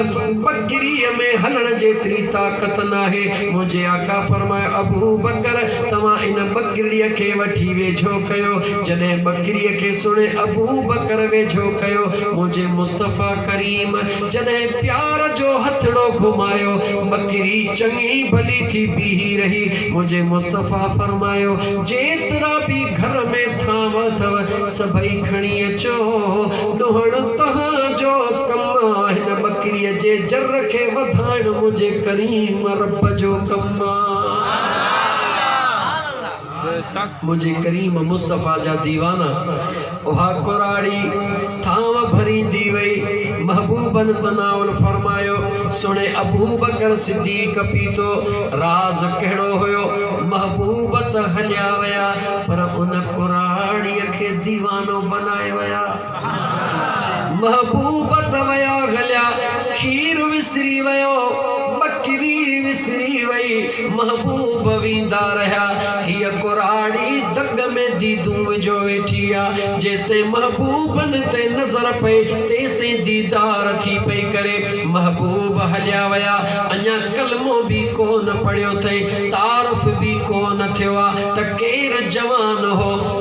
ٻڪريء ۾ هلڻ جيتري طاقت ناهي منهنجي آقا فرمايو ابوبڪر توهان ان ٻڪرڙيء کي وٺي ويجهو ڪيو جڏهن ٻڪريء کي سڻي ابوبڪر ويجهو ڪيو، منهنجي مصطفيٰ ڪريم جڏهن پيار جو هٿڙو گهمايو، ٻڪري چڱي ڀلي ٿي بيهي رهي، منهنجي مصطفيٰ فرمايو، جيترا به گهر ۾ ٿانو اٿو، سڀئي کڻي اچو، ڏهڻ توهان جو ڪم آ، هن ٻڪريء جي جر کي وڌائڻ منهنجي ڪريم رب جو ڪم آ. منهنجي ڪريم مصطفيٰ جا ديوانا. اها ڪراڙي ٿانء ڀريندي وئي. محبوبن تناول فرمايو، سڻي ابوبڪر صديق پيتو. راز ڪهڙو هيو؟ محبوب ته هليا ويا، پر ان ڪراڙيء کي ديوانو بنائي ويا. محبوب ته ويا گليا، کير وسري ويو، ٻڪري وسري وئي، محبوب ويندا رهيا، هيء ڪراڙي دڳ ۾ ديدون وجهيو ويٺي آ، جيستائين محبوبن تي نظر پئي، تيستائين ديدار ٿي پئي ڪري، محبوب هليا ويا، اڃا ڪلمو به ڪونه پڙهيو ٿئي، تعارف به ڪونه ٿيو آ ته ڪير جوان هو،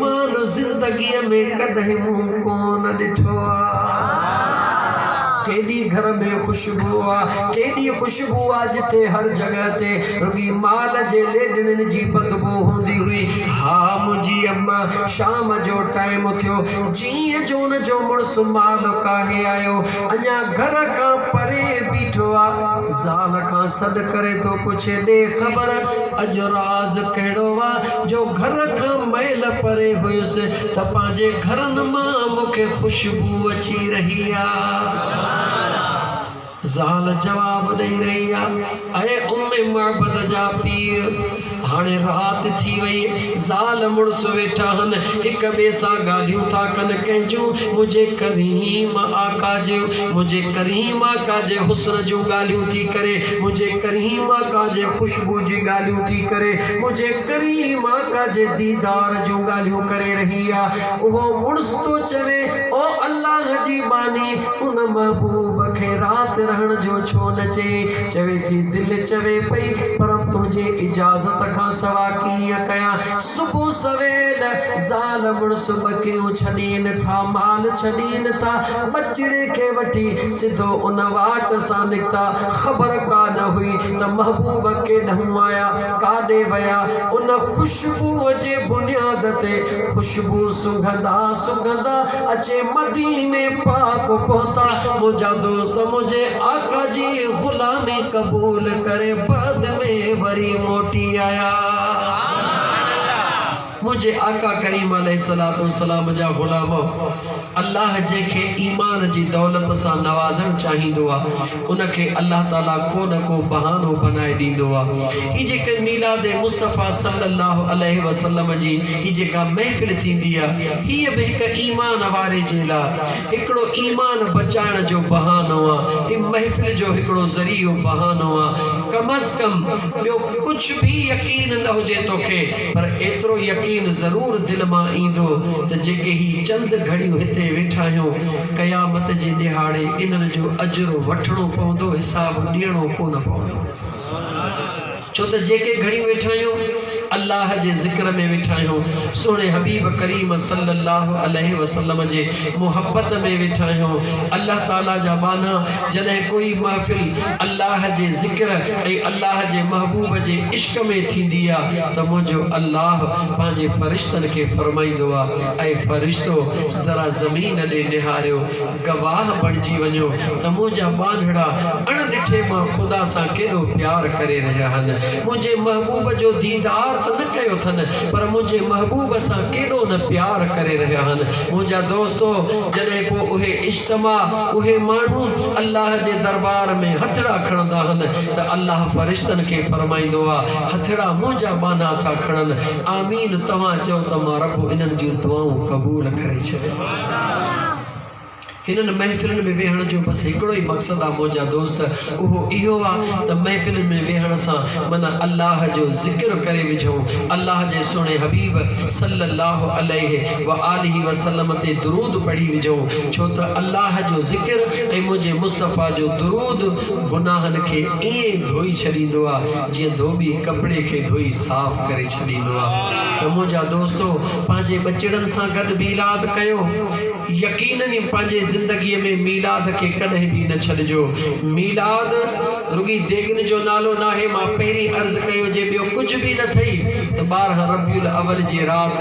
مان زندگيء ۾ ڪڏهن منهن ڪونه ڏٺو آ. ڪيڏي گهر ۾ خوشبو آ، ڪيڏي خوشبو آ جتي هر جڳهه تي رڳي مال جي ليڏڙين جي بدبو هوندي هئي. ها منهنجي اما، شام جو ٽائيم ٿيو، جيئن جو ان جو مڙس مال ڪاهي آيو، اڃا گهر کان پري بيٺو آ. زال کان سڏ ڪري ٿو پڇي، ڏي خبر اڄ راز ڪهڙو آ؟ جو گهر کان مئل پري هيس ته پنهنجي گهرن مان مون کي خوشبو اچي رهي آ. زال جواب ڏئي رهي آ، اي ام معبد جا پيء! هاڻي رات ٿي وئي، زال مڙس ويٺا هن، هڪ ٻئي سان ڳالهيون ٿا ڪن، ڪنهن جون؟ منهنجي ڪريم آقا جي، منهنجي ڪريم آقا جي حسن جون ڳالهيون ٿي ڪري، منهنجي ڪريم آقا جي خوشبو جي ڳالهيون ٿي ڪري. هو جيڪڏهن ئي ماتا جي ديدار جون ڳالهيون ڪري رهي آ، اهو مڙس ٿو چوي، او الله جي ٻانهي! ان محبوب کي رات رهڻ جو ڇو نه چئين؟ چوي ٿي، دل چوي پئي، پر تنهنجي اجازت کان سوا ڪيئن ڪيان؟ صبح سويل زال مڙس ٻڪريون ڇڏين ٿا، مال ڇڏين ٿا، ٻچڙي کي وٺي سڌو ان واٽ سان نڪتا، خبر ڪا نه هئي، ته محبوب ڪيڏانهن آيا، ڪاڏي ويا، ان خوشبوء جي بنياد تي خوشبوء سنگهندا سنگهندا اچي مديني پاڪ پهتا، منهنجا دوست منهنجي آقا جي غلامي قبول ڪري بعد ۾ وري موٽي آيا. منهنجي آقا ڪريم عليه الصلوة والسلام جا غلام، الله جنهن کي ايمان جي دولت سان نوازڻ چاهيندو آ، ان کي الله تعالي ڪو نه ڪو بهانو بنائي ڏيندو آ. هي جيڪي ميلاد مصطفيٰ صلّي الله عليه وسلّم جي هي جيڪا محفل ٿيندي آ، هيء به هڪ ايمان واري جي لا هڪڙو ايمان بچائڻ جو بهانو آ. هي محفل جو هڪڙو ذريعو، بهانو، آ. ڪم از ڪم ٻيو ڪجهه به يقين نه هجي توکي، پر ايترو يقين ضرور دل مان ايندو ته جيڪي هي چند گهڙيون هتي ويٺا آهيون، قيامت جي ڏهاڙي انهن جو اجر وٺڻو پوندو، حساب ڏيڻو ڪونه پوندو. ڇو ته جيڪي گهڙيون ويٺا آهيون، الله جي ذڪر ۾ ويٺا آهيون، سهڻي حبيب ڪريم صلّي الله عليه وسلّم جي محبّت ۾ ويٺا آهيون، الله تعاليٰ جا ٻانها جڏهن ڪوئي محفل الله جي ذڪر ۽ الله جي محبوب جي عشق ۾ ٿيندي آ ته منهنجو الله پنهنجي فرشتن کي فرمائيندو آ، اي فرشتو ذرا زمين ڏي نهاريو، گواهه بڻجي وڃو ته منهنجا ٻانهڙا اڻ ڏٺي مان خدا سان ڪيڏو پيار ڪري رهيا هن، منهنجي محبوب جو ديدار ته نه ڪيو ٿن پر منهنجي محبوب سان ڪيڏو نه پيار ڪري رهيا هن منهنجا دوستو جڏهن پوء اهي اجتماع اهي ماڻهو الله جي دربار ۾ هٿڙا کڻندا هن ته الله فرشتن کي فرمائيندو آ، هٿڙا منهنجا ٻانها ٿا کڻن، آمين توهان چئو ته مان رب انهن جون دعائون قبول ڪري ڇڏيم. هنن محفلن ۾ ويهڻ جو بس هڪڙو ئي مقصد آ منهنجا دوست اهو اهو آ ته محفلن ۾ ويهڻ سان من الله جو ذڪر ڪري وجهون، الله جي سهڻي حبيب صلي الله عليه و آله و سلم تي درود پڙهي وجهون ڇو ته الله جو ذڪر ۽ منهنجي مصطفيٰ جو درود گناهن کي ائين ڌوئي ڇڏيندو آ جيئن ڌوٻي ڪپڙي کي ڌوئي صاف ڪري ڇڏيندو آ ته منهنجا دوستو پنهنجي ٻچڙن سان گڏ ميلاد ڪيو يقينن ئي پنهنجي زندگي ۾ ميلاد کي ڪڏهن به نه ڇڏجو ميلاد رڳي ديڳن جو نالو ناهي مان پهرين عرض ڪيو جي ٻيو ڪجهه به نه ٿئي ته ٻارهن ربيع الاول جي رات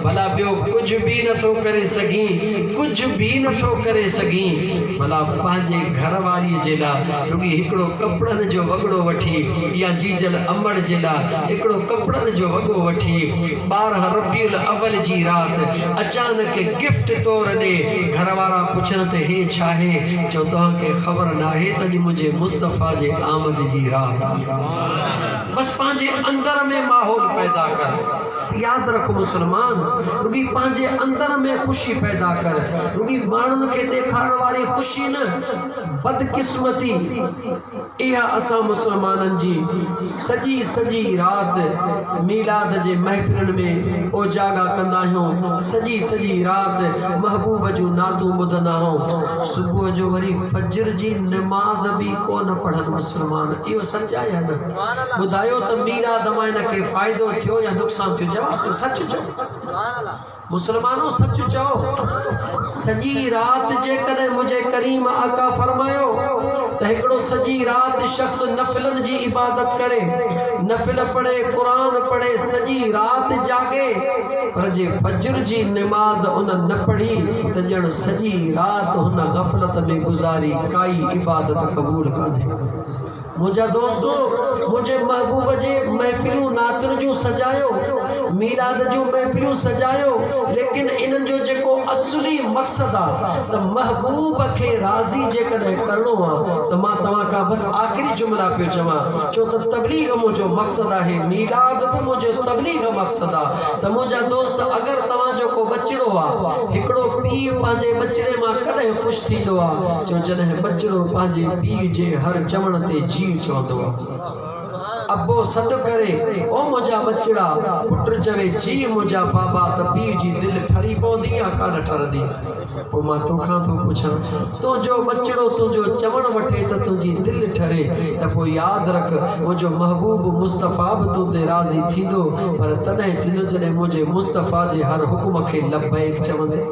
ڀلا ٻيو ڪجهه به نه ٿو ڪري سگهين ڪجهه به نه ٿو ڪري سگهين ڀلا پنهنجي گهر واريء جي لاء رڳي هڪڙو ڪپڙن جو وڳڙو وٺي يا جيجل امڙ جي لاء هڪڙو ڪپڙن جو وڳو وٺي ٻارهن ربيع الاول جي رات اچانڪ گفٽ طور ڏي گهر وارا پڇن ته هي ڇاهي چئو توهان کي خبر ناهي ته اڄ منهنجي مصطفيٰ جي آمد جي رات آهي بس پنهنجي اندر ۾ ماحول پيدا ڪر ياد رک مسلمان! رڳي پنهنجي اندر ۾ خوشي پيدا ڪر، رڳي ماڻهن کي ڏيکارڻ واري خوشي نه. بدقسمتي اها اسان مسلمانن جي سڄي سڄي رات ميلاد جي محفلن ۾ اوجاڳا ڪندا آهيون، سڄي سڄي رات محبوب جون نعتون ٻڌندا آهيون، صبح جو وري فجر جي نماز به ڪونه پڙهن مسلمان اهو سچ آهي يا نه؟ ٻڌايو ته مير آدم آئينه کي فائدو ٿيو يا نقصان ٿيو جواب ڏيو سچ چئو مسلمانو سچ چئو سڄي رات جيڪڏهن منهنجي ڪريم آقا فرمايو ته هڪڙو سڄي رات شخص نفلن جي عبادت ڪري نفل پڙهي قرآن پڙهي سڄي رات جاڳي پر جي فجر جي نماز ان نه پڙهي ته ڄڻ سڄي رات هن غفلت ۾ گذاري ڪائي عبادت قبول ڪانهي منهنجا دوست منهنجي محبوب جي محفلون نعتن جون سجايو ميلاد جون محفلون سجايو ليڪن انهن جو جيڪو اصلي مقصد آ ته محبوب کي راضي جيڪڏهن ڪرڻو آ ته مان توهان کان بس آخري جملا پيو چوان ڇو ته تبليغ منهنجو مقصد آهي ميلاد به منهنجو تبليغ مقصد آ ته منهنجا دوست اگر توهان جو ڪو ٻچڙو آ هڪڙو پيء پنهنجي ٻچڙي مان ڪڏهن خوش ٿيندو آ جو جڏهن ٻچڙو پنهنجي پيء جي هر چوڻ تي جيء چوندو آ. ابو سڏ ڪري او منهنجا ٻچڙا، پٽ چوي جيء منهنجا بابا ته پيء جي دل ٺري پوندي يا ڪانه ٺرندي؟ پوء مان توکان ٿو پڇان. تنهنجو ٻچڙو تنهنجو چوڻ وٺي ته تنهنجي دل ٺري ته پوء ياد رک منهنجو محبوب مصطفيٰ به تو تي راضي ٿيندو پر تڏهن ٿيندو جڏهن منهنجي مصطفيٰ جي هر حڪم کي لبيڪ چوندين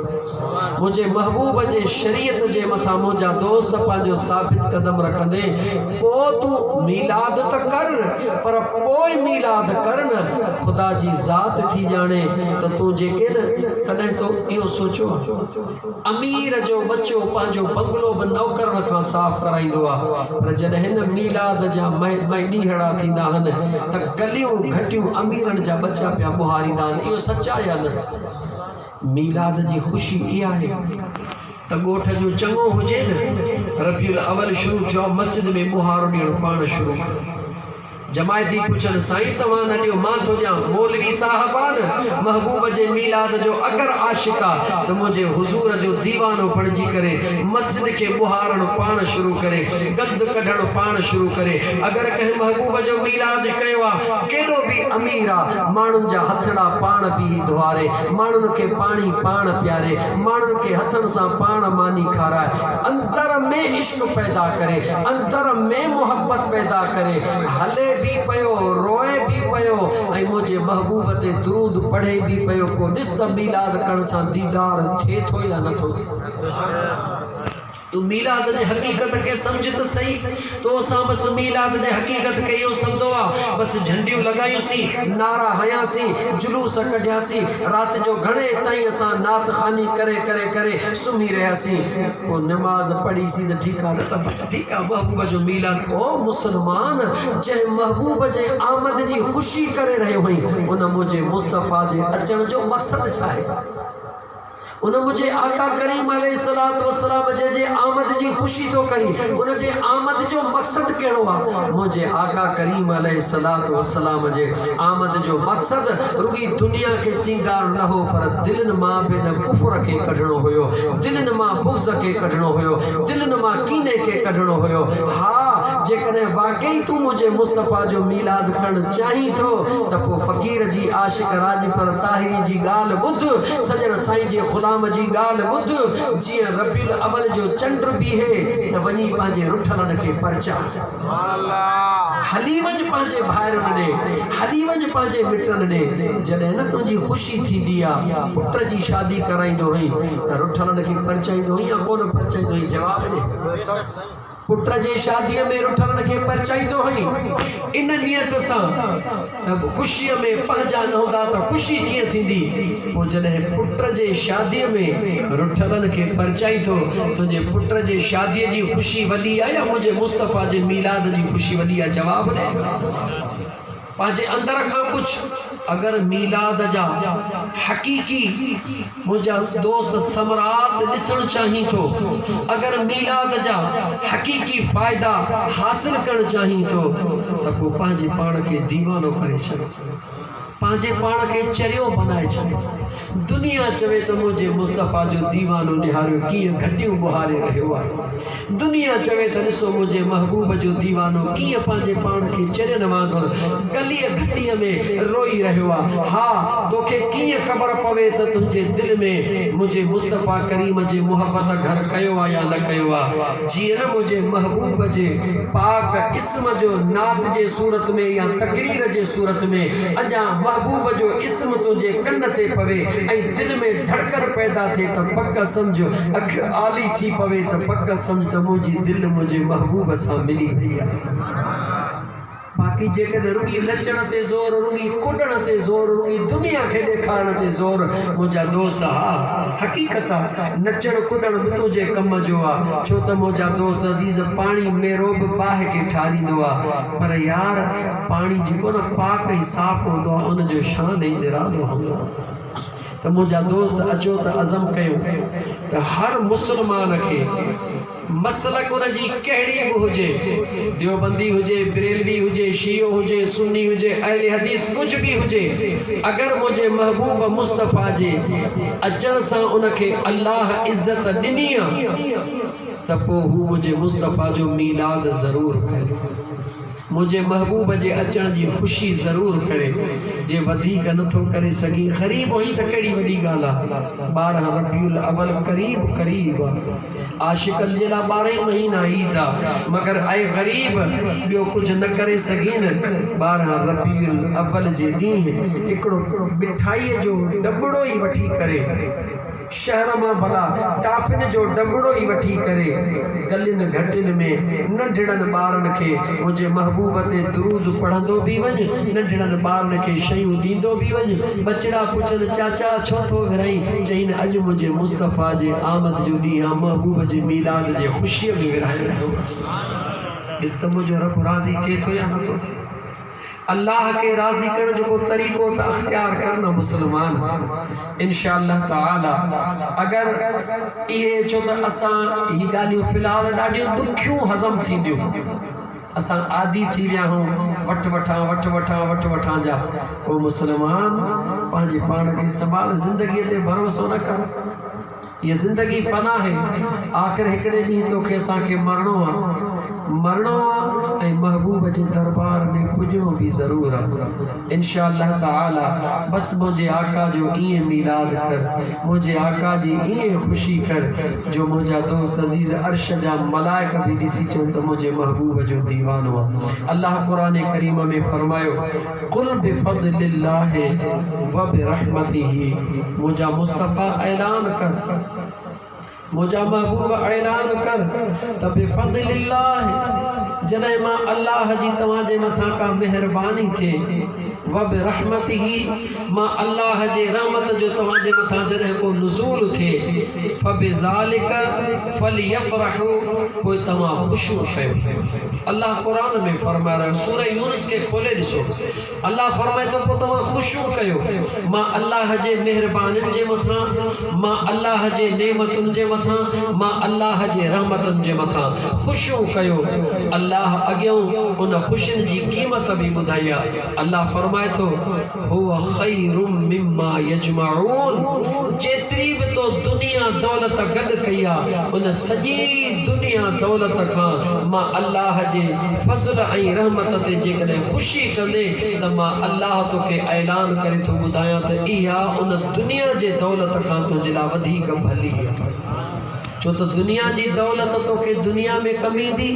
منهنجي محبوب جي شريعت جي مٿان منهنجا دوست پنهنجو ثابت قدم رکندين پوء تون ميلاد ته ڪر پر پوء ميلاد ڪر نه خدا جي ذات ٿي ڄاڻي ته تون جيڪي نه ڪڏهن تو اهو سوچيو آهي. امير جو ٻچو پنهنجو بنگلو به نوڪرن کان صاف ڪرائيندو آ پر جڏهن ميلاد جا مهمان ڏينهڙا ٿيندا آهن ته ڪليون گهٽيون اميرن جا ٻچا پيا ٻهاريندا آهن اهو سچ آ يا نه؟ ميلاد جي خوشي اهي آهي ته ڳوٺ جو چڱو هجي نه ربيع الاول شروع ٿيو آ مسجد ۾ ٻهارو ڏيڻ پاڻ شروع ڪري. جماعتي پڇن سائين توهان نه ڏيو مان ٿو ڏيان مولوي صاحب آ نه محبوب جي ميلاد جو اگر عاشق آ ته منهنجي حضور جو ديوانو بڻجي ڪري مسجد کي ٻهارڻ پاڻ شروع ڪري گند ڪڍڻ پاڻ شروع ڪري اگر ڪنهن محبوب جو ميلاد ڪيو آ ڪيڏو به امير آ ماڻهن جا هٿڙا پاڻ بيهي ڌوئاري ماڻهن کي پاڻي پاڻ پياري ماڻهن کي هٿن سان پاڻ ماني کارائي اندر ۾ عشق پيدا ڪري تر ۾ محبت پيدا ڪري، هلي به پيو، روئي به پيو ۽ منهنجي محبوب تي درود پڙهي به پيو، پوء ڏس ته ميلاد ڪرڻ سان ديدار ٿئي ٿو يا نه ٿو ٿئي. تون ميلاد جي حقيقت کي سمجهه ته سهي، تو سان بس ميلاد جي حقيقت کي اهو سمدو آ، بس جهنڊيون لڳايونسين، نعرا هنياسين، جلوس ڪڍياسين، رات جو گهڻي تائين اسان نعت خواني ڪري ڪري ڪري سمهي رهياسين. پوء نماز پڙهي سين ته ٺيڪ آ نه ته بس ٺيڪ آ محبوب جو ميلاد ڪو مسلمان جنهن محبوب جي آمد جي خوشي ڪري رهيو هئين ان منهنجي مصطفيٰ جي اچڻ جو مقصد ڇا آهي ان منهنجي آقا ڪريم عليه الصلوة والسلام جنهن جي آمد جي خوشي ٿو ڪرين ان جي آمد جو مقصد ڪهڙو آ منهنجي آقا ڪريم عليه الصلوة والسلام جي آمد جو مقصد رڳي دنيا کي سينگارڻ نه هو پر دلين مان به ان ڪفر کي ڪڍڻو هيو دلين مان بغض کي ڪڍڻو هيو، دلين مان ڪيني کي ڪڍڻو هيو. ها! جيڪڏهن واقعي تون منهنجي مصطفيٰ جو ميلاد ڪرڻ چاهين ٿو ته پوء فقير جي عاشق راڄپر طاهري جي ڳالهه ٻڌ، سڄڻ سائين جي غلام جي ڳالهه ٻڌ، جيئن ربيع الاول جو چنڊ بيهي ته وڃي پنهنجي رٺلن کي پرچاء. هلي وڃ پنهنجي ڀائرن ڏي، هلي وڃ پنهنجي مٽن ڏي، جڏهن نه تنهنجي خوشي ٿيندي آ. پٽ جي شادي ڪرائيندو هئين ته رٺلن کي پرچائيندو هئين يا ڪونه پرچائيندو هئين؟ جواب ڏي. پٽ جي شاديء ۾ رٺلن کي پرچائيندو هئين ان نيت سان. ته به خوشيء ۾ پنهنجا نه هوندا ته خوشي ڪيئن ٿيندي؟ پوء جڏهن پٽ جي شاديء ۾ رٺلن کي پرچائين ٿو، تنهنجي پٽ جي شاديء جي خوشي وڏي آ يا منهنجي مصطفيٰ جي ميلاد جي خوشي وڏي آ؟ جواب ڏي پنهنجي اندر کان پڇ، اگر ميلاد جا حقيقي. منهنجا دوست ثمرات ڏسڻ چاهين ٿو اگر ميلاد جا حقيقي فائدا حاصل ڪرڻ چاهين ٿو ته پوء پنهنجي پاڻ کي ديوانو ڪري ڇڏ پنهنجي پاڻ کي چريو بنائي ڇڏ دنيا چوي ته منهنجي مصطفيٰ جو ديوانو نهاريو ڪيئن گهٽيون ٻهاري رهيو آهي دنيا چوي ته ڏسو منهنجي محبوب جو ديوانو ڪيئن پنهنجي پاڻ کي چرين وانگر گليء گهٽيء ۾ روئي رهيو آ. ها! توکي ڪيئن خبر پوي ته تنهنجي دل ۾ منهنجي مصطفيٰ ڪريم جي محبت گهر ڪيو آ يا نه ڪيو آ. جيئن نه منهنجي محبوب جي پاڪ اسم جو نعت جي صورت ۾ يا تقرير جي صورت ۾ اجان محبوب جو اسم تنهنجي ڪن تي پوي ۽ دل ۾ ڌڙڪن پيدا ٿئي ته پڪ سمجهه اک آلي ٿي پوي ته پڪ سمجھ ته منهنجي دل منهنجي محبوب سان ملي وئي آهي. باقي جيڪڏهن رڳي نچڻ تي زور، رڳي ڪڏڻ تي زور، رڳي دنيا کي ڏيکارڻ تي زور، منهنجا دوست ها حقيقت آ نچڻ ڪڏڻ به تنهنجي ڪم جو آ، ڇو ته منهنجا دوست عزيز پاڻي ميرو به باهه کي ٺاريندو آ، پر يار پاڻي جيڪو نه پاڪ ۽ صاف هوندو آ ان جو شان ئي نرالو هوندو آ. ته منهنجا دوست اچو ته عزم ڪيو ته هر مسلمان کي مسلڪ ان جي ڪهڙي به هجي ديوبندي هجي بريلوي هجي شيعو هجي سني هجي اهل حديث ڪجهه به هجي اگر منهنجي محبوب مصطفيٰ جي اچڻ سان ان کي الله عزت ڏني آ ته پوء هو منهنجي مصطفيٰ جو ميلاد ضرور ڪري منهنجي محبوب جي اچڻ جي خوشي ضرور ڪري جي وڌيڪ نه ٿو ڪري سگهين قريب آهين ته ڪهڙي وڏي ڳالهه آهي ٻارهن ربيع الاول قريب قريب آهي عاشقن جي لاء ٻارهن مهينا عيد آهي مگر اي غريب ٻيو ڪجهه نه ڪري سگهين ٻارهن ربيع الاول جي ڏينهن هڪڙو مٺائي جو ڏٻڙو ئي وٺي ڪري شهر مان ڀلا ٽافين جو ڊٻڙو ئي وٺي ڪري گلين گهٽين ۾ ننڍڙن ٻارن کي منهنجي محبوب تي درود پڙهندو به وڃ، ننڍڙن ٻارن کي شيون ڏيندو به وڃ. ٻچڙا پڇن چاچا ڇو ٿو ورهين؟ چئين اڄ منهنجي مصطفيٰ جي آمد جو ڏينهن آ، محبوب جي ميلاد جي خوشيء ۾ ورهائي رهيو آهيان. ڏس ته منهنجو رب راضي ٿئي ٿو يا نٿو ٿئي. الله کي راضي ڪرڻ جو ڪو طريقو ته اختيار ڪر نه مسلمان انشاء الله تعالي اگر اهي ڇو ته اسان هي ڳالهيون في الحال ڏاڍيون ڏکيون هضم ٿينديون اسان عادي ٿي ويا آهون وٺ وٺان وٺ وٺان وٺ وٺان جا او مسلمان پنهنجي پاڻ کي سنڀال زندگي تي ڀروسو نه ڪر هيء زندگي فنا آهي، آخر هڪڙي ڏينهن توکي اسان کي مرڻو آ، مرڻو آ ۽ محبوب جي دربار ۾ پڄڻو به ضرور آ، انشاء الله تعاليٰ، بس منهنجي آقا جو ائين ميلاد ڪر، منهنجي آقا جي ائين خوشي ڪر، جو منهنجا دوست عزيز عرش جا ملائڪ به ڏسي چون ته منهنجي محبوب جو ديوانو آ، الله قرآن ڪريم ۾ فرمايو. قل بفضل الله وبرحمته منهنجا مصطفيٰ اعلان ڪر منهنجا محبوب اعلان ڪر ته بفضل الله جڏهن مان الله جي توهان جي مٿان ڪا مهرباني ٿئي وبرحمته مان الله جي رحمت جو توهان جي مٿان جڏهن ڪو نزول ٿئي فبذلڪ فليفرحوا پوء توهان خوشيون ڪيو الله قرآن ۾ فرمائي رهيو سورة يونس کي کولي ڏسو الله فرمائي ٿو پوء توهان خوشيون ڪيو مان الله جي مهربانين جي مٿان مان الله جي نعمتن جي مٿان مان الله جي رحمتن جي مٿان خوشيون ڪيو الله اڳيئون ان خوشين جي قيمت به ٻڌائي آهي الله فرمائي ٿو هو خير مما يجمعون جيتري به تو دنيا دولت گڏ ڪئي آ ان سڄي دنيا دولت کان مان الله جي فضل ۽ رحمت تي جيڪڏهن خوشي ڪندي ته مان الله توکي اعلان ڪري ٿو ٻڌايان ته اها ان دنيا جي دولت کان تنهنجي لاء وڌيڪ ڀلي آ. ڇو ته دنيا جي دولت توکي دنيا ۾ ڪم ايندي،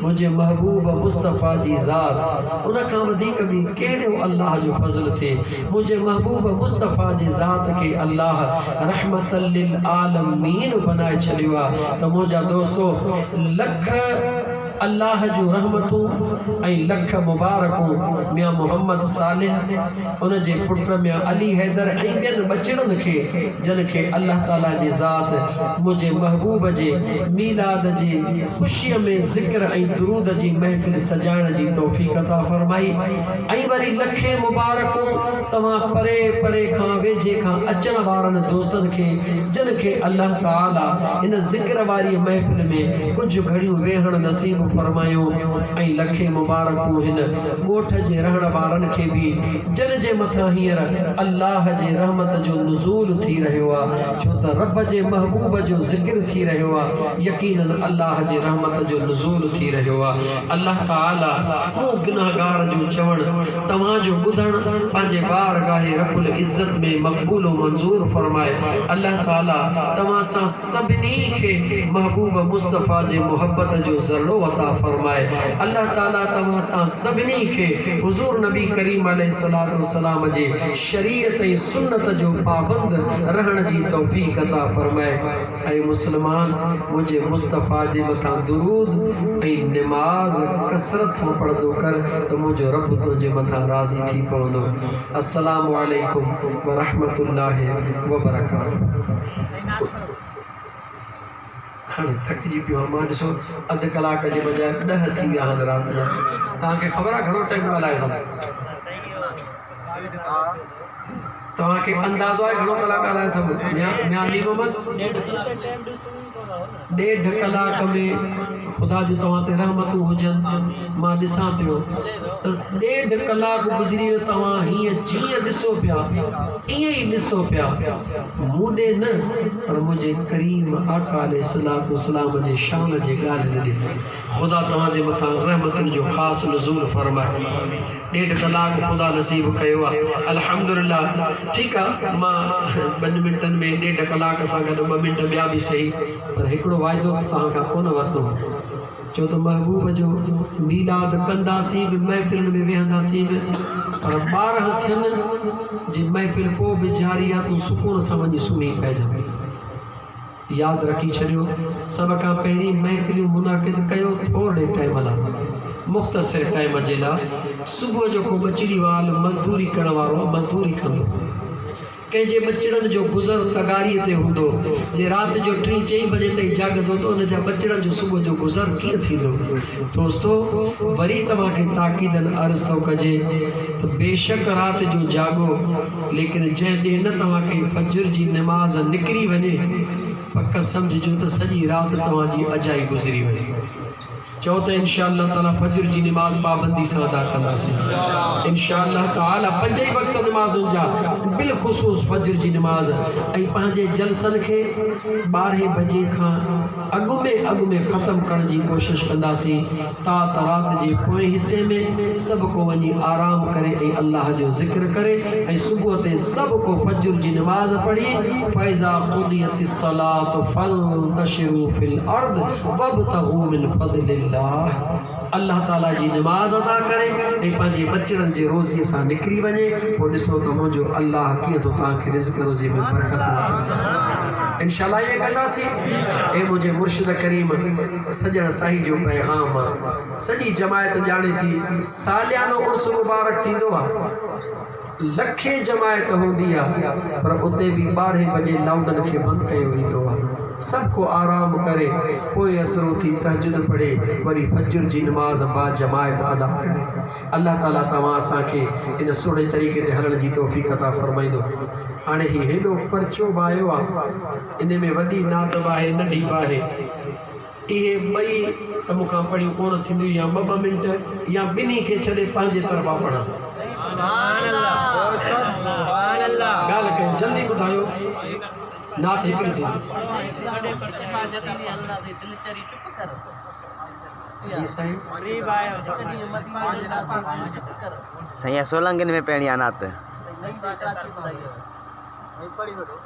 منهنجي محبوب مصطفيٰ جي ذات ان کان وڌيڪ ٻي ڪهڙو الله جو فضل ٿئي، منهنجي محبوب مصطفيٰ جي ذات کي الله رحمة للعالمين بنائي ڇڏيو آهي ته منهنجا دوستو لک الله جون رحمتون ۽ لک مبارڪون ميان محمد صالح، ان جي پٽ ميان علي حيدر ۽ ٻين ٻچڙن کي جن کي الله تعاليٰ جي ذات منهنجي محبوب جي ميلاد جي خوشيء ۾ ذڪر ۽ درود جي محفل سجائڻ جي توفيق عطا فرمائي. ۽ وري لکين مبارڪون توهان پري پري کان ويجهي کان اچڻ وارن دوستن کي جن کي الله تعاليٰ هن ذڪر واريء محفل ۾ ڪجهه گهڙيون ويهڻ نصيب فرمايو ۽ لکين مبارڪون هن ڳوٺ جي رهڻ وارن کي به جن جي مٿان هينئر الله جي رحمت جو نزول ٿي رهيو آ ڇو ته رب جي محبوب جو ذڪر ٿي رهيو آ يقيناً الله جي رحمت جو نزول ٿي رهيو آ. الله تعاليٰ مون گنهگار جو چوڻ، توهان جو ٻڌڻ پنهنجي بارگاهه رب العزت ۾ مقبول و منظور فرمائي. الله تعاليٰ توهان سان سڀني کي محبوب مصطفيٰ جي محبت جو ذرڙو عطا فرمائي. الله تعاليٰ توهان سان سڀني کي حضور نبي ڪريم عليه الصلوة والسلام جي شريعت ۽ سنت جو پابند رهڻ جي توفيق عطا فرمائي. اي مسلمان! منهنجي مصطفيٰ جي مٿان درود ۽ نماز ڪثرت سان پڙهندو ڪر ته منهنجو رب تنهنجي مٿان راضي ٿي پوندو. السلام عليڪم ورحمة الله وبرڪاته. توهان کي اندازو آهي گهڻو ڪلاڪ ڳالهايو اٿم ميان علي محمد ڏيڍ ڪلاڪ ۾ خدا جون توهان تي رحمتون هجن مان ڏسان پيو ته ڏيڍ ڪلاڪ گذري ويو توهان هيئن جيئن ڏسو پيا ائين ئي ڏسو پيا مون ڏي نه پر منهنجي ڪريم آقا عليه الصلاة والسلام جي شان جي ڳالهه نه ڏي خدا توهان جي مٿان رحمتن جو خاص نزول فرمائي ڏيڍ ڪلاڪ خدا نصيب ڪيو آ الحمدلله ٺيڪ آ مان ٻن منٽن ۾ ڏيڍ ڪلاڪ سان گڏ ٻه منٽ ٻيا به سهي پر هڪڙو وعدو به توهان کان ڪونه ورتو چو ته محبوب جو ميلاد ڪنداسين به محفلن ۾ ويهنداسين به پر ٻارهن ٿين جي محفل پوء به جاري آ تون سڪون سان وڃي سمهي پئجان. ياد رکي ڇڏيو سڀ کان پهرين محفليون منعقد ڪيو ٿورڙي ٽائيم لا مختصر ٽائيم جي لا صبح جو ڪو ٻچڙي وال مزدوري ڪرڻ وارو مزدوري ڪندو ڪنهن جي ٻچڙن جو گذر تغاري تي هوندو جي رات جو ٽي چئي بجي تائين جاڳندو ته ان جا ٻچڙن جو صبح جو گذر ڪيئن ٿيندو دوستو وري توهان کي تاڪيدن عرض ٿو ڪجي ته بيشڪ رات جو جاڳو ليڪن جنهن ڏينهن نه توهان کي فجر جي نماز نڪري وڃي، پڪ سمجهجو ته سڄي رات توهان جي اجائي گذري وئي. چئو ته انشاء الله تعاليٰ فجر جي نماز پابندي سان ادا ڪنداسين. انشاء الله تعاليٰ پنج ئي وقت نمازن جا بالخصوص فجر جي نماز ۽ پنهنجي جلسن کي ٻارهين بجي کان اڳ ۾ اڳ ۾ ختم ڪرڻ جي ڪوشش ڪنداسين. تات رات جي پوئين حصي ۾ سڀ ڪو وڃي آرام ڪري ۽ الله جو ذڪر ڪري ۽ صبح تي سڀ ڪو فجر جي نماز پڙهي فاذا قضيت الصلوة فانتشرو في الارض وابتغو من فضل الله الله تعالي جي نماز ادا ڪري ۽ پنهنجي ٻچڙن جي روزي سان نڪري وڃي پوء ڏسو ته منهنجو الله ڪيئن ٿو توهان کي رزق روزي ۾ برڪت عطا ڪري انشاء الله ائين ڪنداسين اي منهنجي مرشد ڪريم سڄڻ سائين جو پيغام سڄي جماعت ڄاڻي ٿي ساليانو عرس مبارڪ ٿيندو آ لکين جماعت هوندي آ پر اتي به ٻارهين بجي لائوڊن کي بند ڪيو ويندو آ سڀ ڪو آرام ڪري پوء اسر اٿي تهجد پڙهي وري فجر جي نماز باجماعت ادا ڪري الله تعالي توهان اسان کي ان سهڻي طريقي تي هلڻ جي توفيق عطا فرمائيندو هاڻي هي هيڏو پرچو بايو آ. انهيء ۾ وڏي نعت به آهي، ننڍي به آهي. اهي ٻئي ته مون کان پڙهيون ڪونه ٿينديون يا ٻه ٻه منٽ يا ٻنهي کي ڇڏي پنهنجي طرفان پڙهان. ڳالهه ڪيو، جلدي ٻڌايو، نعت هڪڙي ٿيندي.